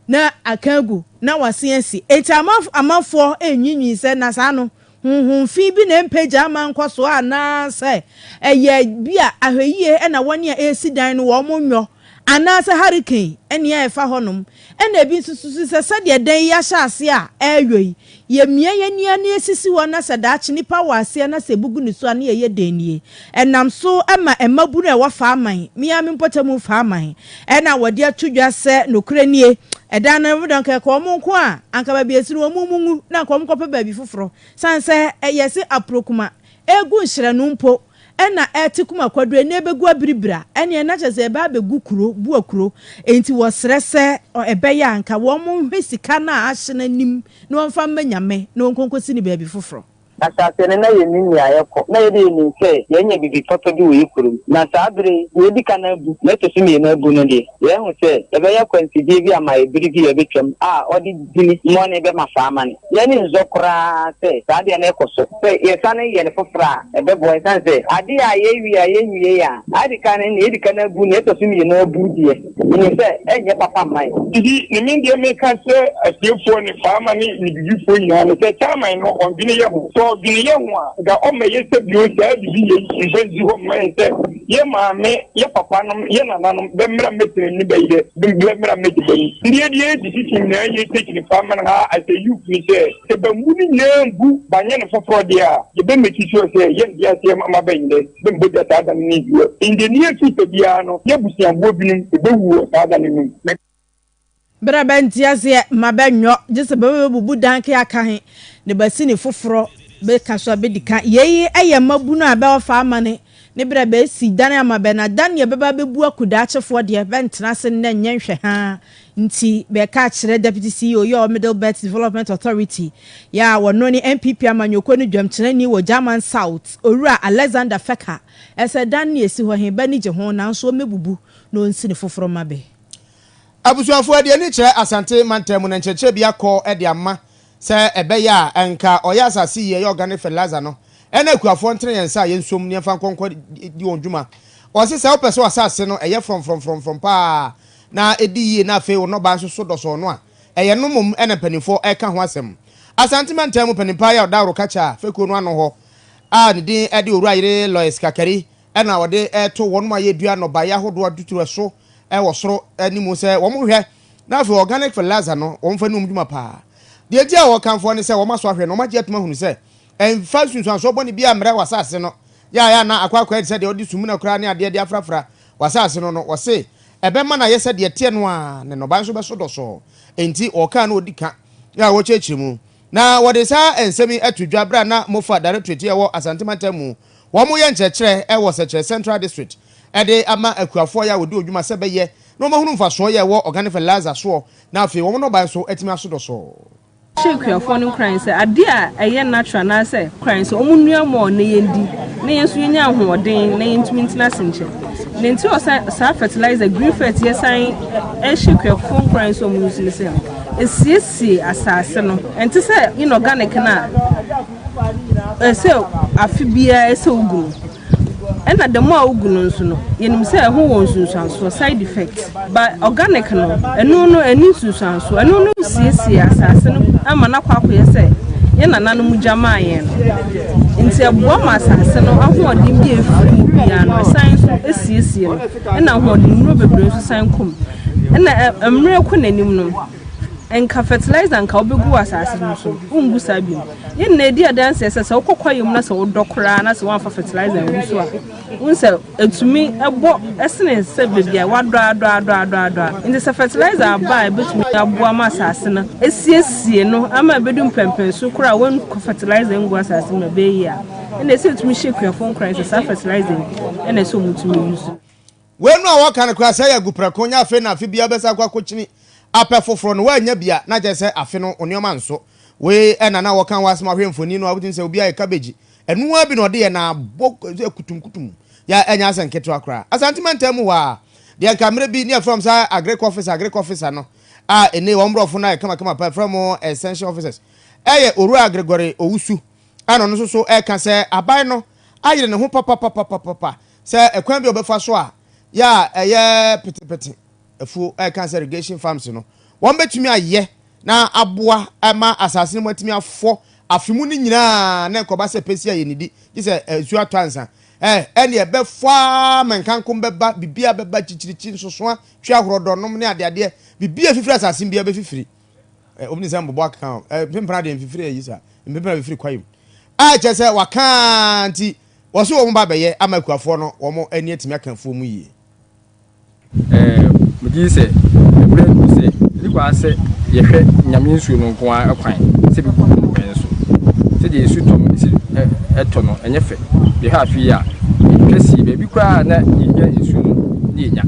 na aka agu, na wɔasen asi. Enti ama amanfoɔ anwiinwii sɛ na saa no, honhom fi bi na ɛmpagya ama ɛnkɔ so anaasɛ ɛyɛ bi a ahwɛyie na wɔn a ɛresi dan no wɔn nyɔ, anaasɛ hurricane nea ɛrefa hɔnom. Ɛnna ebi nso susu sɛ sɛdeɛ dan yi ahyɛ aseɛ a ɛreyɔ yi, Yɛmia yɛn ani a na yɛsisi hɔ na sɛ daakye nipa wɔ aseɛ na sɛ ɛbugu ne so a na yɛyɛ dɛn nie? Ɛnam so ma mmabunu a ɛwɔ Faaman, me ara me mpɔtam Faaman, na wɔde ato dwa sɛ nokorɛ nie, ɛdan no ho dɔ anka ɛka wɔn nko a, anka baabi a ɛsi no wɔn mu nwu na anka wɔnkɔpɛ baabi foforɔ. Sane sɛ yɛse aprokuma ɛgu nhyerɛno mpo Ɛna ɛte kuma kwaduro ɛna ɛbɛgu abiribira ɛne ɛna kyɛ sɛ ɛbɛ abɛgu kuro bua kuro ɛnti wɔsrɛ sɛ ɛbɛyɛ a nka wɔn mo nhwɛ sika no a ahye no anim na wɔn fa mma nyame na wɔn nkonkosi no baabi foforɔ. Asase no na yɛnim nea ɛkɔ na yɛde yɛnim sɛ yɛanya biribi papa bi wɔ yɛ kurom na saa bere yi deɛ ɛdi kan abu na ɛtɔ so mmienu abu no deɛ. Yɛahu sɛ yɛbɛyɛ akwansideɛ bi ama ɛbere bi a ɛbɛtwam a ɔde dini mmɔne bɛma saa amane. Yɛn ani nsɔ koraa sɛ saa adeɛ no rekɔ so. Sɛ yɛsane yɛ no foforɔ a, ɛbɛboa ɛsiane sɛ adeɛ a yɛrewie a yɛnwiee a adi kan no, nea ɛdi kan abu, nea ɛtɔ so mmienu abu deɛ, menim sɛ ɛrenyɛ papa mma yɛn. Enti ne me deɛ meka kyerɛ atiefoɔ ne Faama ne Nibibifoɔ nyinaa ne sɛ Chairman no ɔndwene yɛn ho. Sɛ ɔdwene yɛn ho a, nka ɔmmɛyɛ sɛ bio saa bibi yei mfa nsi hɔ mma yɛn sɛ Yɛ maame, yɛ papanom, yɛ nananom, bɛ mmra mmɛtena ni bɛ yerɛ, bɛ mmra mmɛdi bɛ ni. Deɛ deɛ yɛ sisi si nyinaa yɛ sɛ kyini fa mɛn ha as a youth ni sɛ, sɛ bɛ mmu ni nyinaa mbu ba nyɛ no foforɔ deɛ a, yɛ bɛ make sure sɛ yɛ nte aseɛ ma ma bɛ yerɛ, bɛ mmɔ gya saa da no ni nti yɛ in the near future biara no yɛ abusuaboɔ binom bɛ bɛ wu wɔ saa da no num. Ber a bɛnntse aseɛ ma bɛnnyɔ, gyesɛ bɛbɛbubu dan kɛ aka he, na bɛasi no foforɔ, bɛka so a bɛdi kan. Yei yɛ mmabunu a bɛɔfa amane ne ber a bɛasi dan ama bɛ, na dan deɛ bɛba abɛbu aku daakyefoɔ deɛ, bɛnntena ase nnɛ nnyɛ nhwɛhaa nti, bɛɛka akyerɛ Deputy CEO yi a ɔwɔ Middle Belt Development Authority yi a wɔno ne NPP amanyɔkuo no dwamkyerɛni wɔ German South, Owura Alexander Fecker sɛ dan no a ɛsi hɔ he, bɛ ani gye ho nanso wɔmmɛbubu na wɔnsi no foforɔ mma bɛ. Abusuafoɔ de ani kyerɛ Asante mantam mu na nkyerɛkyerɛ bi akɔ de ama sɛ ɛbɛyɛ a anka ɔyɛ asase yie ɛyɛ organic fertilizer no ɛna akuafoɔ ntene yɛn nsa a yɛnsom ne yɛmfa nkɔ nkɔ di wɔn dwuma. Ɔse sɛ wopɛ sɛ w'asase no ɛyɛ frɔmfrɔmfrɔmfrɔm paa na ɛdi yie na afei wo nnɔbaa nso so dɔsɔɔ no a ɛyɛ no mmom ɛna mpaninfoɔ ɛreka ho asɛm. Asante mantam mu paninpaa Yaw Daworo Kakyɛ a fekuo no ano hɔ a ne din de Owura Yere Lois Kakari na wɔde reto wɔn a yedua nnɔbae ahodoɔ atuturo so wɔ soro ne mu sɛ wɔn nhwɛ na afei organic fertilizer no wɔn fa ne wɔn dwuma paa deɛ nti a wɔkamfoɔ ne sɛ wɔn asɔ ahwɛ na wɔn agye atum ahunu sɛ ɛnfa nsunsuansoɔ bɔne bi ammrɛ w'asase no yɛayɛ ana akɔ akɔ ayɛ sɛ deɛ wɔde sumina koraa ne adeɛ de afrafra w'asase no no wɔse ɛbɛma no ayɛ sɛ deɛ ɛteɛ no ara na nnɔbae nso bɛso dɔsɔɔ enti wɔkaa no ɔdi ka a wɔkyerɛkyerɛ mu na wɔde saa nsɛm yi ato dwa berɛ a na mofa directorate a ɛwɔ Asante mantam mu wɔyɛ nkyerɛkyerɛ wɔ Sɛkyerɛ Central District de ama akuafoɔ yi a wɔdi hɔ dwuma sɛ bɛyɛ na wɔahunu mfasoɔ yɛ ɛwɔ organic fertilizer soɔ na afei wɔn nnɔbaeɛ nso atumi aso dɔsɔɔ. hyɛ akuafoɔ no nkuran sɛ adeɛ a ɛyɛ natural anaasɛ kran sɛ wɔn nnua mɔɔ na yɛn di na yɛn nso yɛnya ahoɔden na yɛn tumi ntena ase nkyɛ na nti ɔsa saa fertilizer green fert yɛ san ɛhyɛ akuafoɔ nkuran sɛ wɔn nso ne sɛ ɛsiesie asaase no ɛnte sɛ inorganic no a Ɛsɛ afe biara ɛsɛ wogu no. Ɛna dɛm a wogu no nso no, yɛnim sɛ ɛho wɔ nsunsuansoɔ, side effect. Ba organic no, ɛno no ɛni nsunsuansoɔ. Ɛno no siesie asase no ama no akɔ akɔyɛ sɛ yɛn nananom gya maa yɛn no. Nti ɛboa ma asase no ahoɔden bi a ɛfiri mu biara no ɛsan nso ɛsiesie no. Ɛna ahoɔdennuro bebree nso san kɔ mu. Ɛna mmerɛ rekɔ n'anim no, Nka fertilizer nka wobegu wɔ asase no so no, wongu saa biom. Yɛn nyinaa di adanseɛ sɛ sɛ wokɔ kwaeɛ mu na sɛ wodɔ koraa na sɛ woamfa fertilizer angu so a, wohu sɛ ɛtumi bɔ sene sɛ baabi a woadɔ adɔ adɔ adɔ adɔ a. Enti sɛ fertilizer aba a ɛbɛtumi aboa ma asase no asiesie no ama ɛbɛdu mpɛnpɛnso korɔ a woankɔ fertilizer angu asase mu no a, ɛbɛyɛ yie. Ɛnna ɛsɛ sɛ yɛtumi hyɛ akuafoɔ nkuran sɛ saa fertilizer yi na ɛsɛ sɛ wɔtumi use. Wei no a wɔka no koraa sɛe agu prɛko nyɛ afe na afe biara wobɛsan akɔ akɔkyini apɛ foforɔ no woannya bi a na kyerɛ sɛ afe no wo nneɛma nso. Wei na na wɔka wɔ asɛm a wohwɛ mfoni no a wobɛtumi sɛ obi ayɛ kabegyi ɛno ara bi na ɔde yɛ na abɔ akutumkutum yɛ a ɛnyɛ asɛ nketewa koraa. Asante mantam mu hɔ ara deɛ nka mmerɛ bi ne yɛfrɛ wɔn saa agric officer agric officer no a ɛnei wɔn borɔfo no ayɛ kamakama paa yɛfrɛ wɔn extension officers ɛyɛ Owura Gregory Owusu Ɛna ɔno nso so reka sɛ aban no ayere ne ho papapapapapa sɛ ɛkwan bi a ɔbɛfa so a yɛ a ɛyɛ petepete afuo ɛka sɛ irrigation farms no wɔn bɛtumi ayɛ na aboa ma asase no mu atumi afɔ afe mu no nyinaa na nkɔba sɛ pɛsi a yɛnidi gye sɛ nsuo atɔ ansa ɛne ɛbɛfɔ a ma nkankom bɛba bibia bɛba kyikyirikyi nsosoa twe ahorɔdɔnom ne adeadeɛ bibia fifiri asase bia bɛfifiri Eh, obi ne sɛ mbobɔ akeka o. Eh, mpempena deɛ mfifiri ayi sa. Mpempena bɛfiri kwae mu. A kyerɛ sɛ waka nti wɔso wɔn ba bɛyɛ ama akuafoɔ no wɔn ani atumi aka afuo mu yie. Eh, megye di sɛ ɛberɛ adu sɛ ɛdi kɔ ara sɛ yɛhwɛ Nyame nsuo no nko ara kwan sɛ ɛbɛgu nnɔbaeɛ no so. Sɛdeɛ nsu tɔ no ɛsi eh, ɛtɔ no ɛnyɛ fɛ. Yɛhwɛ afe yi a, yɛhwɛ sii baabi koraa a na yɛhia nsuo no na yɛnya.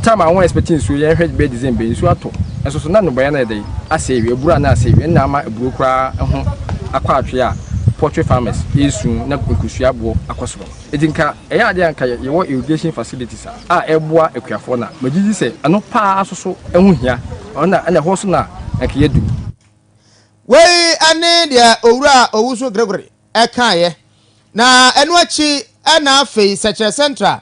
Tam a wɔn expect nsuo yɛn hwɛ bɛyɛ December nsuo atɔ. Nso so na nnɔbaeɛ no yɛ dɛ asɛe wie, aburo a na asɛe wie na ama aburo koraa ho akɔ atwe a poultry farmers resu na nkosua aboɔ akɔ soro. Eti nka ɛyɛ adeɛ a nka yɛwɔ irrigation facilities a a ɛboa akuafoɔ no a, megye di sɛ ɛno paa nso so ɛho hia. Ɔno na ɛna ɛhɔ so na nka yɛadu. Wei ne deɛ Owura Owusu Gregory kaeɛ, na ɛno akyi na afei Sɛkyerɛ Central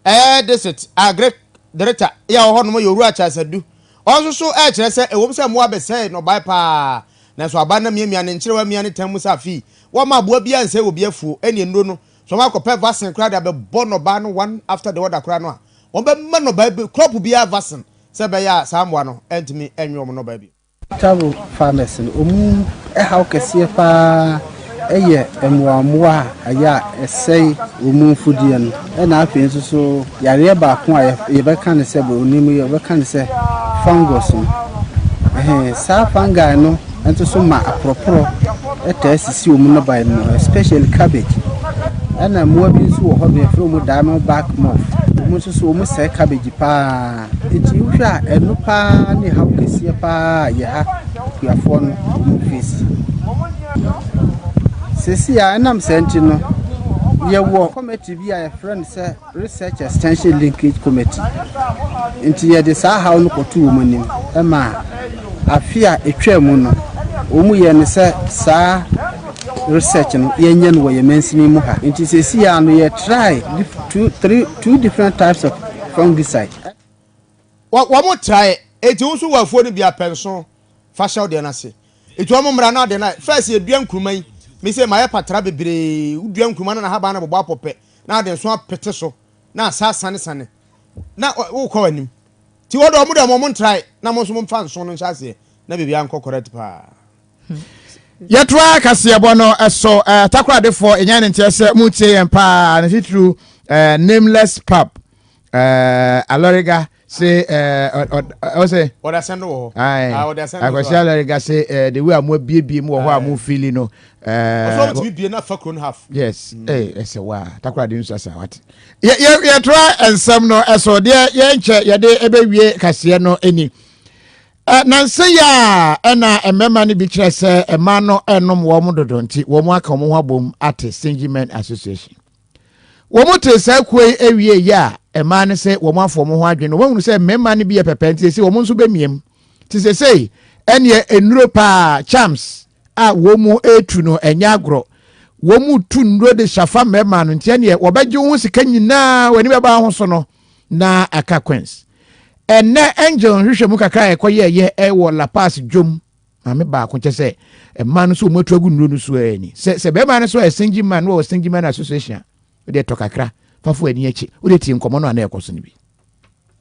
ɛyɛ District Agric Director yɛ wɔ hɔnom yɛ Owura Charles Adu. Ɔno nso so rekyerɛ sɛ ɛwom sɛ mmoa abɛsɛe nnɔbaeɛ pa ara nanso aba na miamia ne nkyerewa mia ne tan mu sɛ afei wɔmma aboa biara nsɛe wɔ bi afuo ɛne nnuro no so wɔakɔpɛ vaccine koraa de abɛbɔ nnɔbaeɛ no one after the other koraa no a wɔbɛma nnɔbaeɛ bi crop biara vaccine sɛ ɛbɛyɛ a saa mmoa no ntumi nwe wɔn nnɔbaeɛ bio. Taro farmers no ɔmu ɛhaw kɛseɛ paa ɛyɛ mmoamoa a ɛyɛ a ɛsɛe ɔmu mfudeɛ no ɛna afei nso so yareɛ baako a yɛbɛka no sɛ broni mu yɛbɛka no sɛ fungus no ɛhɛn saa fungi no nso so ma aporɔporɔ ɛtaa sisi ɔmu no bae mu especially cabbage ɛna mmoa bi nso wɔ hɔ no yɛfrɛ ɔmu diamond back moth ɔmu nso so ɔmu sɛe cabbage paa. Enti wohwɛ a, ɛno paa ne haw kɛseɛ paa a yɛn ha akuafoɔ no wɔn face. Sɛsi a ɛnam saa nti no, yɛwɔ committee bi a yɛfrɛ no sɛ Research Extension Linkage Committee. Nti yɛde saa haw no kɔto wɔn anim ma afe a ɛtwaa mu no, wɔn yɛ no sɛ saa research no yɛnyɛ no wɔ yɛn mansini mu ha. Nti sɛsi a no yɛ try two three Two different types of fungicide. Wɔ, wɔn traeɛ, enti wo nso wɔ afuo no bi a, pɛ nso fa hyɛ wo deɛ no ase. Enti wɔn mmara no ade no ayɛ, first yɛdua nkruma yi, me sei mayɛ patra bebree, wodua nkruma no na ahabaa no bobɔ apɔ pɛ, na ade nso apete so, na asa asanesane, na ɔ, wokɔ w'anim. Nti wɔde wɔn deɛ wɔn ntrae, na mo nso momfa nso no nhyɛ aseɛ, na biribiara nkɔ correct paa. yɛtoa kaseɛbɔ no so eh, takoradefoɔ ɛnya ne nteɛ sɛ motie yɛn paa ne titiriw eh, nameless pub eh, alɔrega se ɔsɛ akwasi alɔrega se de wi a moabiebie mu wɔ hɔ a mofili no yes ɛsɛ mm. wa takorade nsu asa wate yɛtoa nsɛm no so deɛ yɛnkyɛ yɛde ɛbɛwie kaseɛ no ni Nansa yi a na mmarima no bi kyerɛ sɛ mmaa no nom wɔn dodo nti wɔn aka wɔn ho abom ate Stingy Men Association. Wɔn te saa kuo yi awie yɛ a mmaa no sɛ wɔn afɔ wɔn ho adwene wɔn ahunu sɛ mmarima no bi yɛ pɛpɛ nti sɛ wɔn nso bɛmiem te sɛ sɛ ɛneɛ nnuro paa charms a wɔn retu no ɛnyɛ agorɔ wɔn tu nnuro de hyafa mmarima no nti ɛneɛ wɔbɛgye wo ho sika nyinaa w'ani bɛba ho so no na aka queens ɛnɛ angel nhwehwɛ mu kakra a ɛkɔyɛɛyɛ ɛwɔ la pass dwom maame baako kyɛ sɛ mmaa no so wɔn atu agu nnuro no so ɛni sɛ sɛ bɛrima no so yɛ single man no wɔ single man association a wɔde ɛtɔ kakra fafo ani akyi wɔde tie nkɔmɔ no a na ɛkɔ so no bi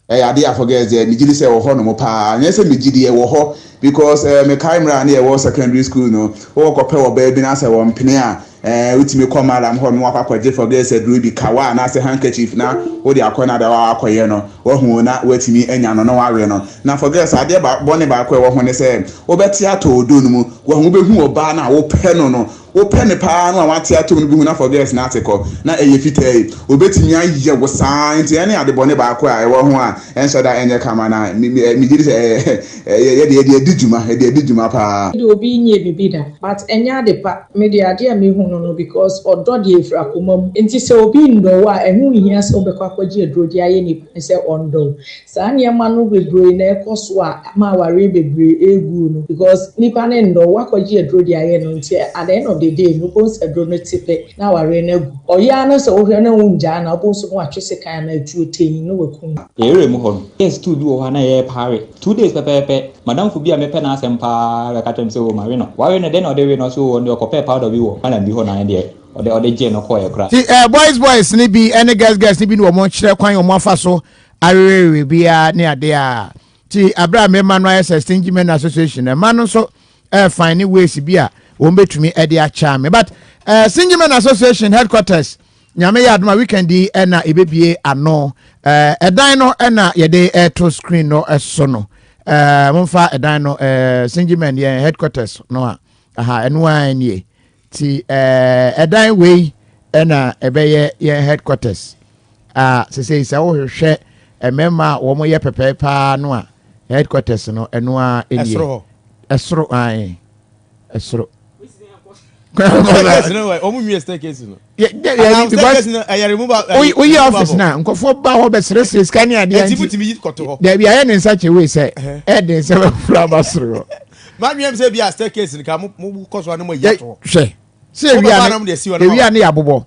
Ɛyɛ adeɛ a for girls deɛ megye di sɛ ɛwɔ hɔ nom paa. Nyɛ sɛ megye di, ɛwɔ hɔ because eh, mekae mmerɛ a ne yɛwɔ secondary school no, wokɔpɛ ɔbaa bi na sɛ wɔmpene a, eh, wotumi kɔ madam hɔ nom wakɔ akɔgye for girls aduro bi, kawa anaasɛ handkerchief na wode akɔ na dawa wakɔyɛ no, wahu o, na watumi anya no na wawe no. Na for girls adeɛ ba, bɔne baako a ɛwɔ ho ne sɛ wobɛte atɔ odo no mu, wahu wobɛhu ɔbaa no a wopɛ no no, Wopɛ no paa no a wate atom no behu n'afɔgɛɛs no ase kɔ, na ɛyɛ fitaa yi. Obetumi ayɛ wo saa. Enti ɛno yɛ adebɔne baako a ɛwɔ ho a ɛnhyɛ da nyɛ kama, na migye di sɛ yɛde yɛde adi dwuma, yɛde adi dwuma paa. Me de obi nyɛɛ biribi da but ɛnyɛ ade pa, me de adeɛ a mehu no no because ɔdɔ deɛ ɛfiri akoma mu nti sɛ obi nnɔ wo a ɛho nhia sɛ wobɛkɔ akɔgye aduro de ayɛ nipa no sɛ ɔndɔ wo, Saa nneɛma no bebree na ɛkɔ so a ama awareɛ bebree ɛregu no because nnipa no nnɔ, woakɔgye aduro de ayɛ no nti at the end of the day no wobɛhu sɛ aduro no te pɛ na awareɛ no agu. Ɔyɛ ara na sɛ wohwɛ na wongyaa no a wobɛhu sɛ na watwe sekan anaa atuo tee na waku no. Yɛn area mu hɔ no, yɛn stool bi wɔ hɔ a na yɛpaare. Two days pɛpɛɛpɛ, madamfo bi a mepɛ n'asɛm pa ara bɛka kyerɛɛ me sɛ oo mawe no. Wawe no dɛn na ɔde we no? Ɔse oo ɔno deɛ ɔkɔpɛɛ powder bi wɔ madam bi hɔ na ɛno deɛ ɔde ɔde gyee no kɔeɛ koraa. Nti eh boys boys no bi ne girls girls no bi ne wɔn kyerɛ kwan wɔn afa so awewewe biara ne adeɛ a ti abere a mmarima no ayɛ sɛ stingy men association mma no nso ɛɛfan ne ways bi a wɔn bɛtumi ɛde akyɛ me but ɛɛ stingy men association headquarters nyame yɛ adoma weekend yi ɛna ɛbɛbie ano ɛɛ ɛdan no ɛna yɛde ɛɛto screen no ɛso no ɛɛ momfa ɛdan no ɛɛ stingy men yɛn headquarters no a aha ɛno ara nie Ti ɛdan wei na ɛbɛyɛ yɛn headquarters a sesei sɛ wohwehwɛ mmarima a wɔn yɛ pɛpɛɛ paa no a headquarters no ɛno a ɛnie ɛsoro hɔ ɛsoro ae ɛsoro woyɛ office no a nkɔfoɔ ba hɔ bɛserɛserɛ sika ne adeɛ nti daabi ayɛ ne nsa kyɛ wei sɛ ɛden sɛ bɛfra ba soro hɔ Madwene m sɛ bi a staircase nka mo mo kɔ so anom ayi ato hɔ. Hwɛ. Sɛ ewia ne nam de asi hɔ no. Ewia ne yɛ abobɔ.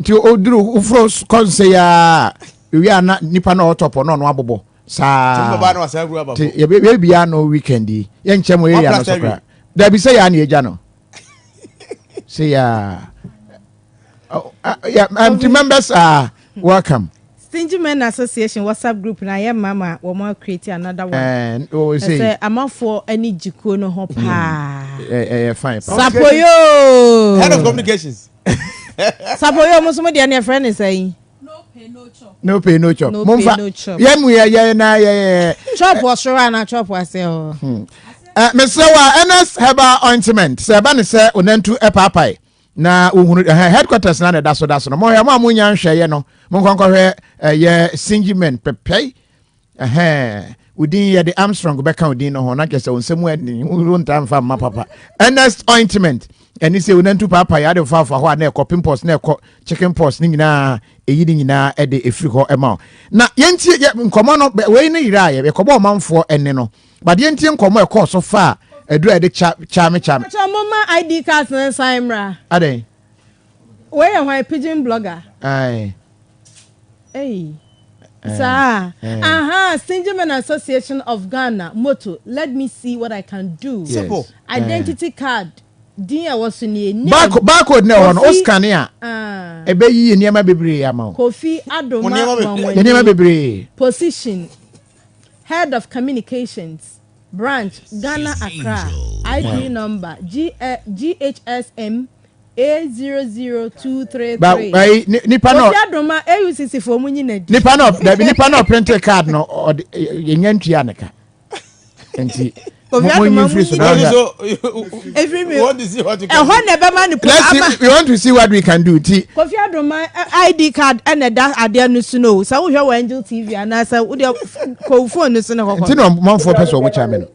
Nti o duru ofro kɔ nse ya ewia na nipa na ɔtɔ pɔ na ɔno abobɔ. Saa. Ti mo baba na wasan huru aba fo. Ti yɛ bɛ yɛ bia no weekend yi. Yɛ nkyɛ mo area no so kra. Dabi sɛ ya ne yɛ gya no. Sɛ ya. Oh, uh, yeah, I'm to members are welcome. Stingy Men Association WhatsApp group na yɛ mma ma wɔn a create another one. Ɛɛ o sɛ. Ɛsɛ amanfoɔ ani gye kuo no ho paa. Ɛɛ ɛyɛ fine paa. Sapoyo. Head of communications. Sapoyo mo sɔmi deɛ ne ɛfrɛ ne sɛ yi. No pay no chop. No pay no chop. No pay no chop. Yɛ mu yɛ yɛ na yɛ yɛ. Chop wɔ soro ana chop wɔ ase hɔ. Hmm. Ɛɛ mesrɛ wa NS herbal ointment sɛ ɛba ne sɛ onantu ɛpaapae. na wohunu ɛhɛn headquarters na na ɛda so da so no mo hwɛ mo a mo nya nhwɛeɛ no mo nkɔnkɔhwɛ ɛyɛ singimen pɛpɛi ɛhɛn odin yɛ de armstrong bɛka odin no ho na kyɛ sɛ wɔn nsɛm ani wontaa nfa mma papa ernest ointment ɛne sɛ onantu paapa yɛ adefa afa hɔ a na ɛkɔ pimples na ɛkɔ chicken pox ne nyinaa ɛyi ne nyinaa ɛde ɛfiri hɔ ɛma o na yɛntie yɛ nkɔmmɔ no wei ne yerɛ a yɛkɔbɔ ɔmanfoɔ ɛne no Badeɛ ntie nkɔmmɔ a ɛkɔɔ so faa aduru a yɛde kya kyame kyame. Mpakyɛw momma ID cards no nsan mmra. Adɛn? Wei yɛ hwan pidgin blogger? Aye. Ei. Eh, Saa. Eh. Aha, Stingy Men Association of Ghana motto, let me see what I can do. Yes. Identity eh. card din a ɛwɔ so nie. Barcode na ɛwɔ no, o scan a. Ah. Ɛbɛyi nneɛma bebree ama o. Kofi Adoma Nwanwani. Nneɛma bebree. Position. Head of Communications, Branch, Ghana Accra, ID number, GHSM A00233. Kofi Adoma, AUCC foɔ mu nyina di. Nipa na dabi nipa na ɔprinte card no ɔde yɛnya ntua ne ka nti Obi Mo- mo adoma nyi mu mfiri so, nyi. That is so. Every me- You want to see what you can ɛhɔ do. na ɛbɛma no po Let's see, ama we want to see what we can do. Ti, kofi adoma ɛ, id card ɛna ɛda adeɛ no so no o sɛ wohwɛ wɔ angel tv anaasɛ wodeɛ kɔw phone no so ne nti hɔhɔ na ɔmanfoɔ pɛ sɛ ɔmo kya me no.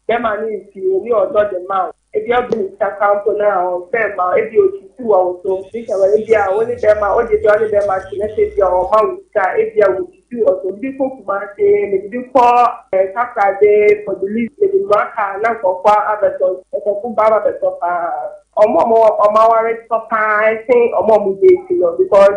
Bɛma ne nsuo ne ɔdɔ de ma wo. Ebi ɔgye ne sika koraa mpo na ɔnsɛ mma wo, ebia ɔkyiti wɔ wo so, nti sɛ wɔ ebia wo ne bɛrima, wogye di ɔne bɛrima te na sɛ ebia ɔmma wo sika a, ebia ɔkyiti wɔ so. Mede kɔ Kumasi, mede bi kɔ eh, Takoradi, Port de Lis, mede mmra kaa na nkurɔfoɔ abɛtɔ, nkurɔfoɔ ba abɛtɔ paa. Wɔn a wɔn aware tɔ paa sen wɔn a wɔdate no because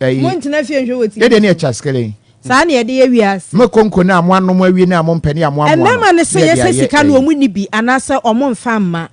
Ɛyi, Montena fie nhwɛ wɔ ti. Yɛdeɛ ne yɛ kyaskele. Saa na yɛde yɛ wiase. Mo konko no a mo anom awie no a mo mpɛ ne a mo amoa no. Mmarima no sɛ yɛ sɛ sika no wɔn nni bi anaasɛ wɔn nfa mma.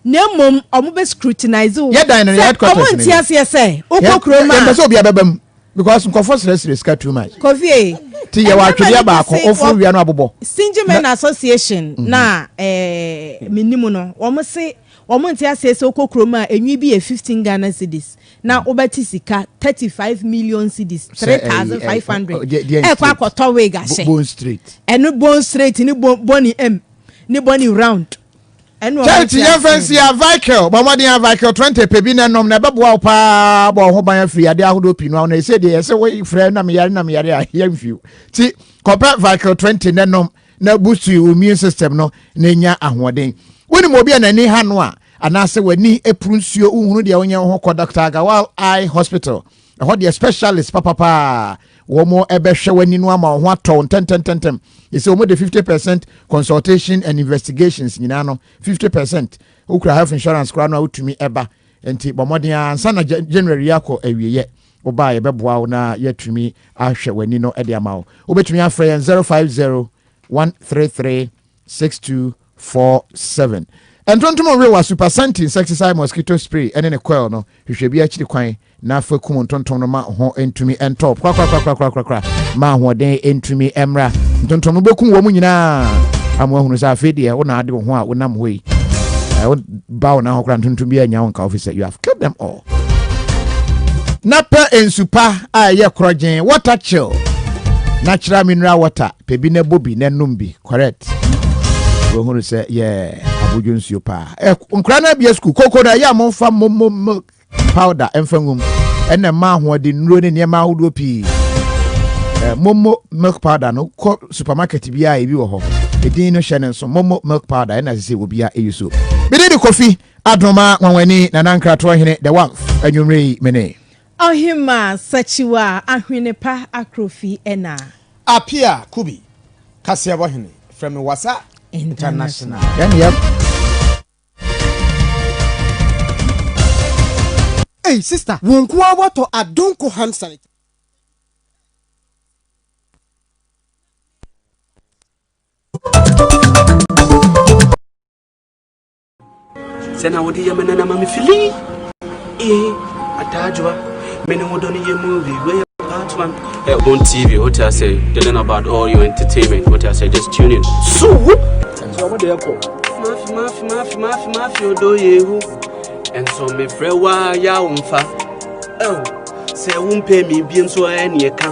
Na mmom wɔn bɛ scrutinize wo. Yɛ dan no, yɛ headquarters no. Sɛ wɔn nte aseɛ sɛ wokɔ kurom a. Yɛn mpɛ sɛ obi abɛba mu because nkɔfɔ srɛsrɛ sika too much. Kofi ee. Ti yɛ wɔ atwedeɛ baako ofuru wia no abobɔ. Stingy men association mhm. na ɛɛ eh, minimu no wɔn se wɔn nte aseɛ sɛ wokɔ kurom a enwi bi yɛ fifteen Ghana cedis na wobɛte sika thirty five million cedis three thousand five hundred ɛkɔ akɔtɔ wig ahyɛ bone straight ɛno bone straight ne bone m ne bone round kyɛnti yɛmfa nsi avical bɔ mmɔden avical 20 pɛ bi na nom na ɛbɛboa wo paa bɔ ho ban afiri adeɛ ahodoɔ pii no na ɛsɛ deɛ ɛsɛ wo frɛ na meyare na meyare a yɛmfiw nti kɔpɛ vical 20 na nom na busu wo immune system no na nya ahoɔden wonim obi a n'ani ha no a anaasɛ w'ani puru nsuo wohunu deɛ wonyɛ wo ho kɔ dr agawal eye hospital ɛhɔ deɛ specialist papapaa wɔn ɛbɛhwɛ w'ani no ama wɔn ho atɔ ntɛntɛntɛntɛm ɛsɛ wɔn de fifty percent consultation and investigations nyinaa no fifty percent wokura health insurance koraa no a wotumi ɛba nti bɔ mmɔden a ansa na january akɔ awieɛ woba a yɛbɛboa wo na yɛatumi ahwɛ w'ani no de ama wo. Wobɛtumi afrɛ yɛn 050 133 6247. Ntontom nwe wa super santi insecticide mosquito spray ɛne ne coil no hwehwɛ bi akyiri kwan na fa kum ntontom no ma ho ntumi ntɔ korakorakorakorakorakora ma ahoɔden ntumi mmra ntontom no bɛkum wɔn nyinaa ama ahunu sɛ afei deɛ wo na ade wo ho a wonam hɔ yi ɛwo ba wo na ho kora ntontom bi anya wo nka wo fi sɛ you have killed them all na pɛ nsu pa a ɛyɛ korɔgyen water chill natural mineral water pɛ bi na ɛbɔ bi na ɛnom bi correct wɔhunu sɛ yɛ abodwo nsuo paa ɛ nkora no abia sukuu koko no ɛyɛ a momfa momom powder ɛmfa ngum ɛna mma ahoɔden nnuro ne nneɛma ahodoɔ pii ɛ momo milk powder no kɔ supermarket biara ebi wɔ hɔ edin no hyɛ ne nso momo milk powder ɛna sɛ sɛ obiara ɛyi so bididi kofi Adoma Nwanwani Nana Nkratoɔ Hene the Wamf Anwumerɛ yi me ne. Ɔhemaa Sakyiwa Ahwene pa Akrofi ɛna. Apia Kubi Kaseɛbɔ Hene frɛ me Wasa International. Yɛn ne yɛ. Ei sister wo nko ara watɔ adonko hand sanitizer. sɛ na wode yɛ me nana ma me fili ee adaajoa me ne wodɔ no yɛ mu wiwe part one eh, on tv what i say they learn about all your entertainment what i say just tune in so whoop mafi mafi mafi mafi mafi odo yehu ɛnso mefrɛ wo a yɛ wo mfa sɛ wompɛ me biem so ɛneɛ ka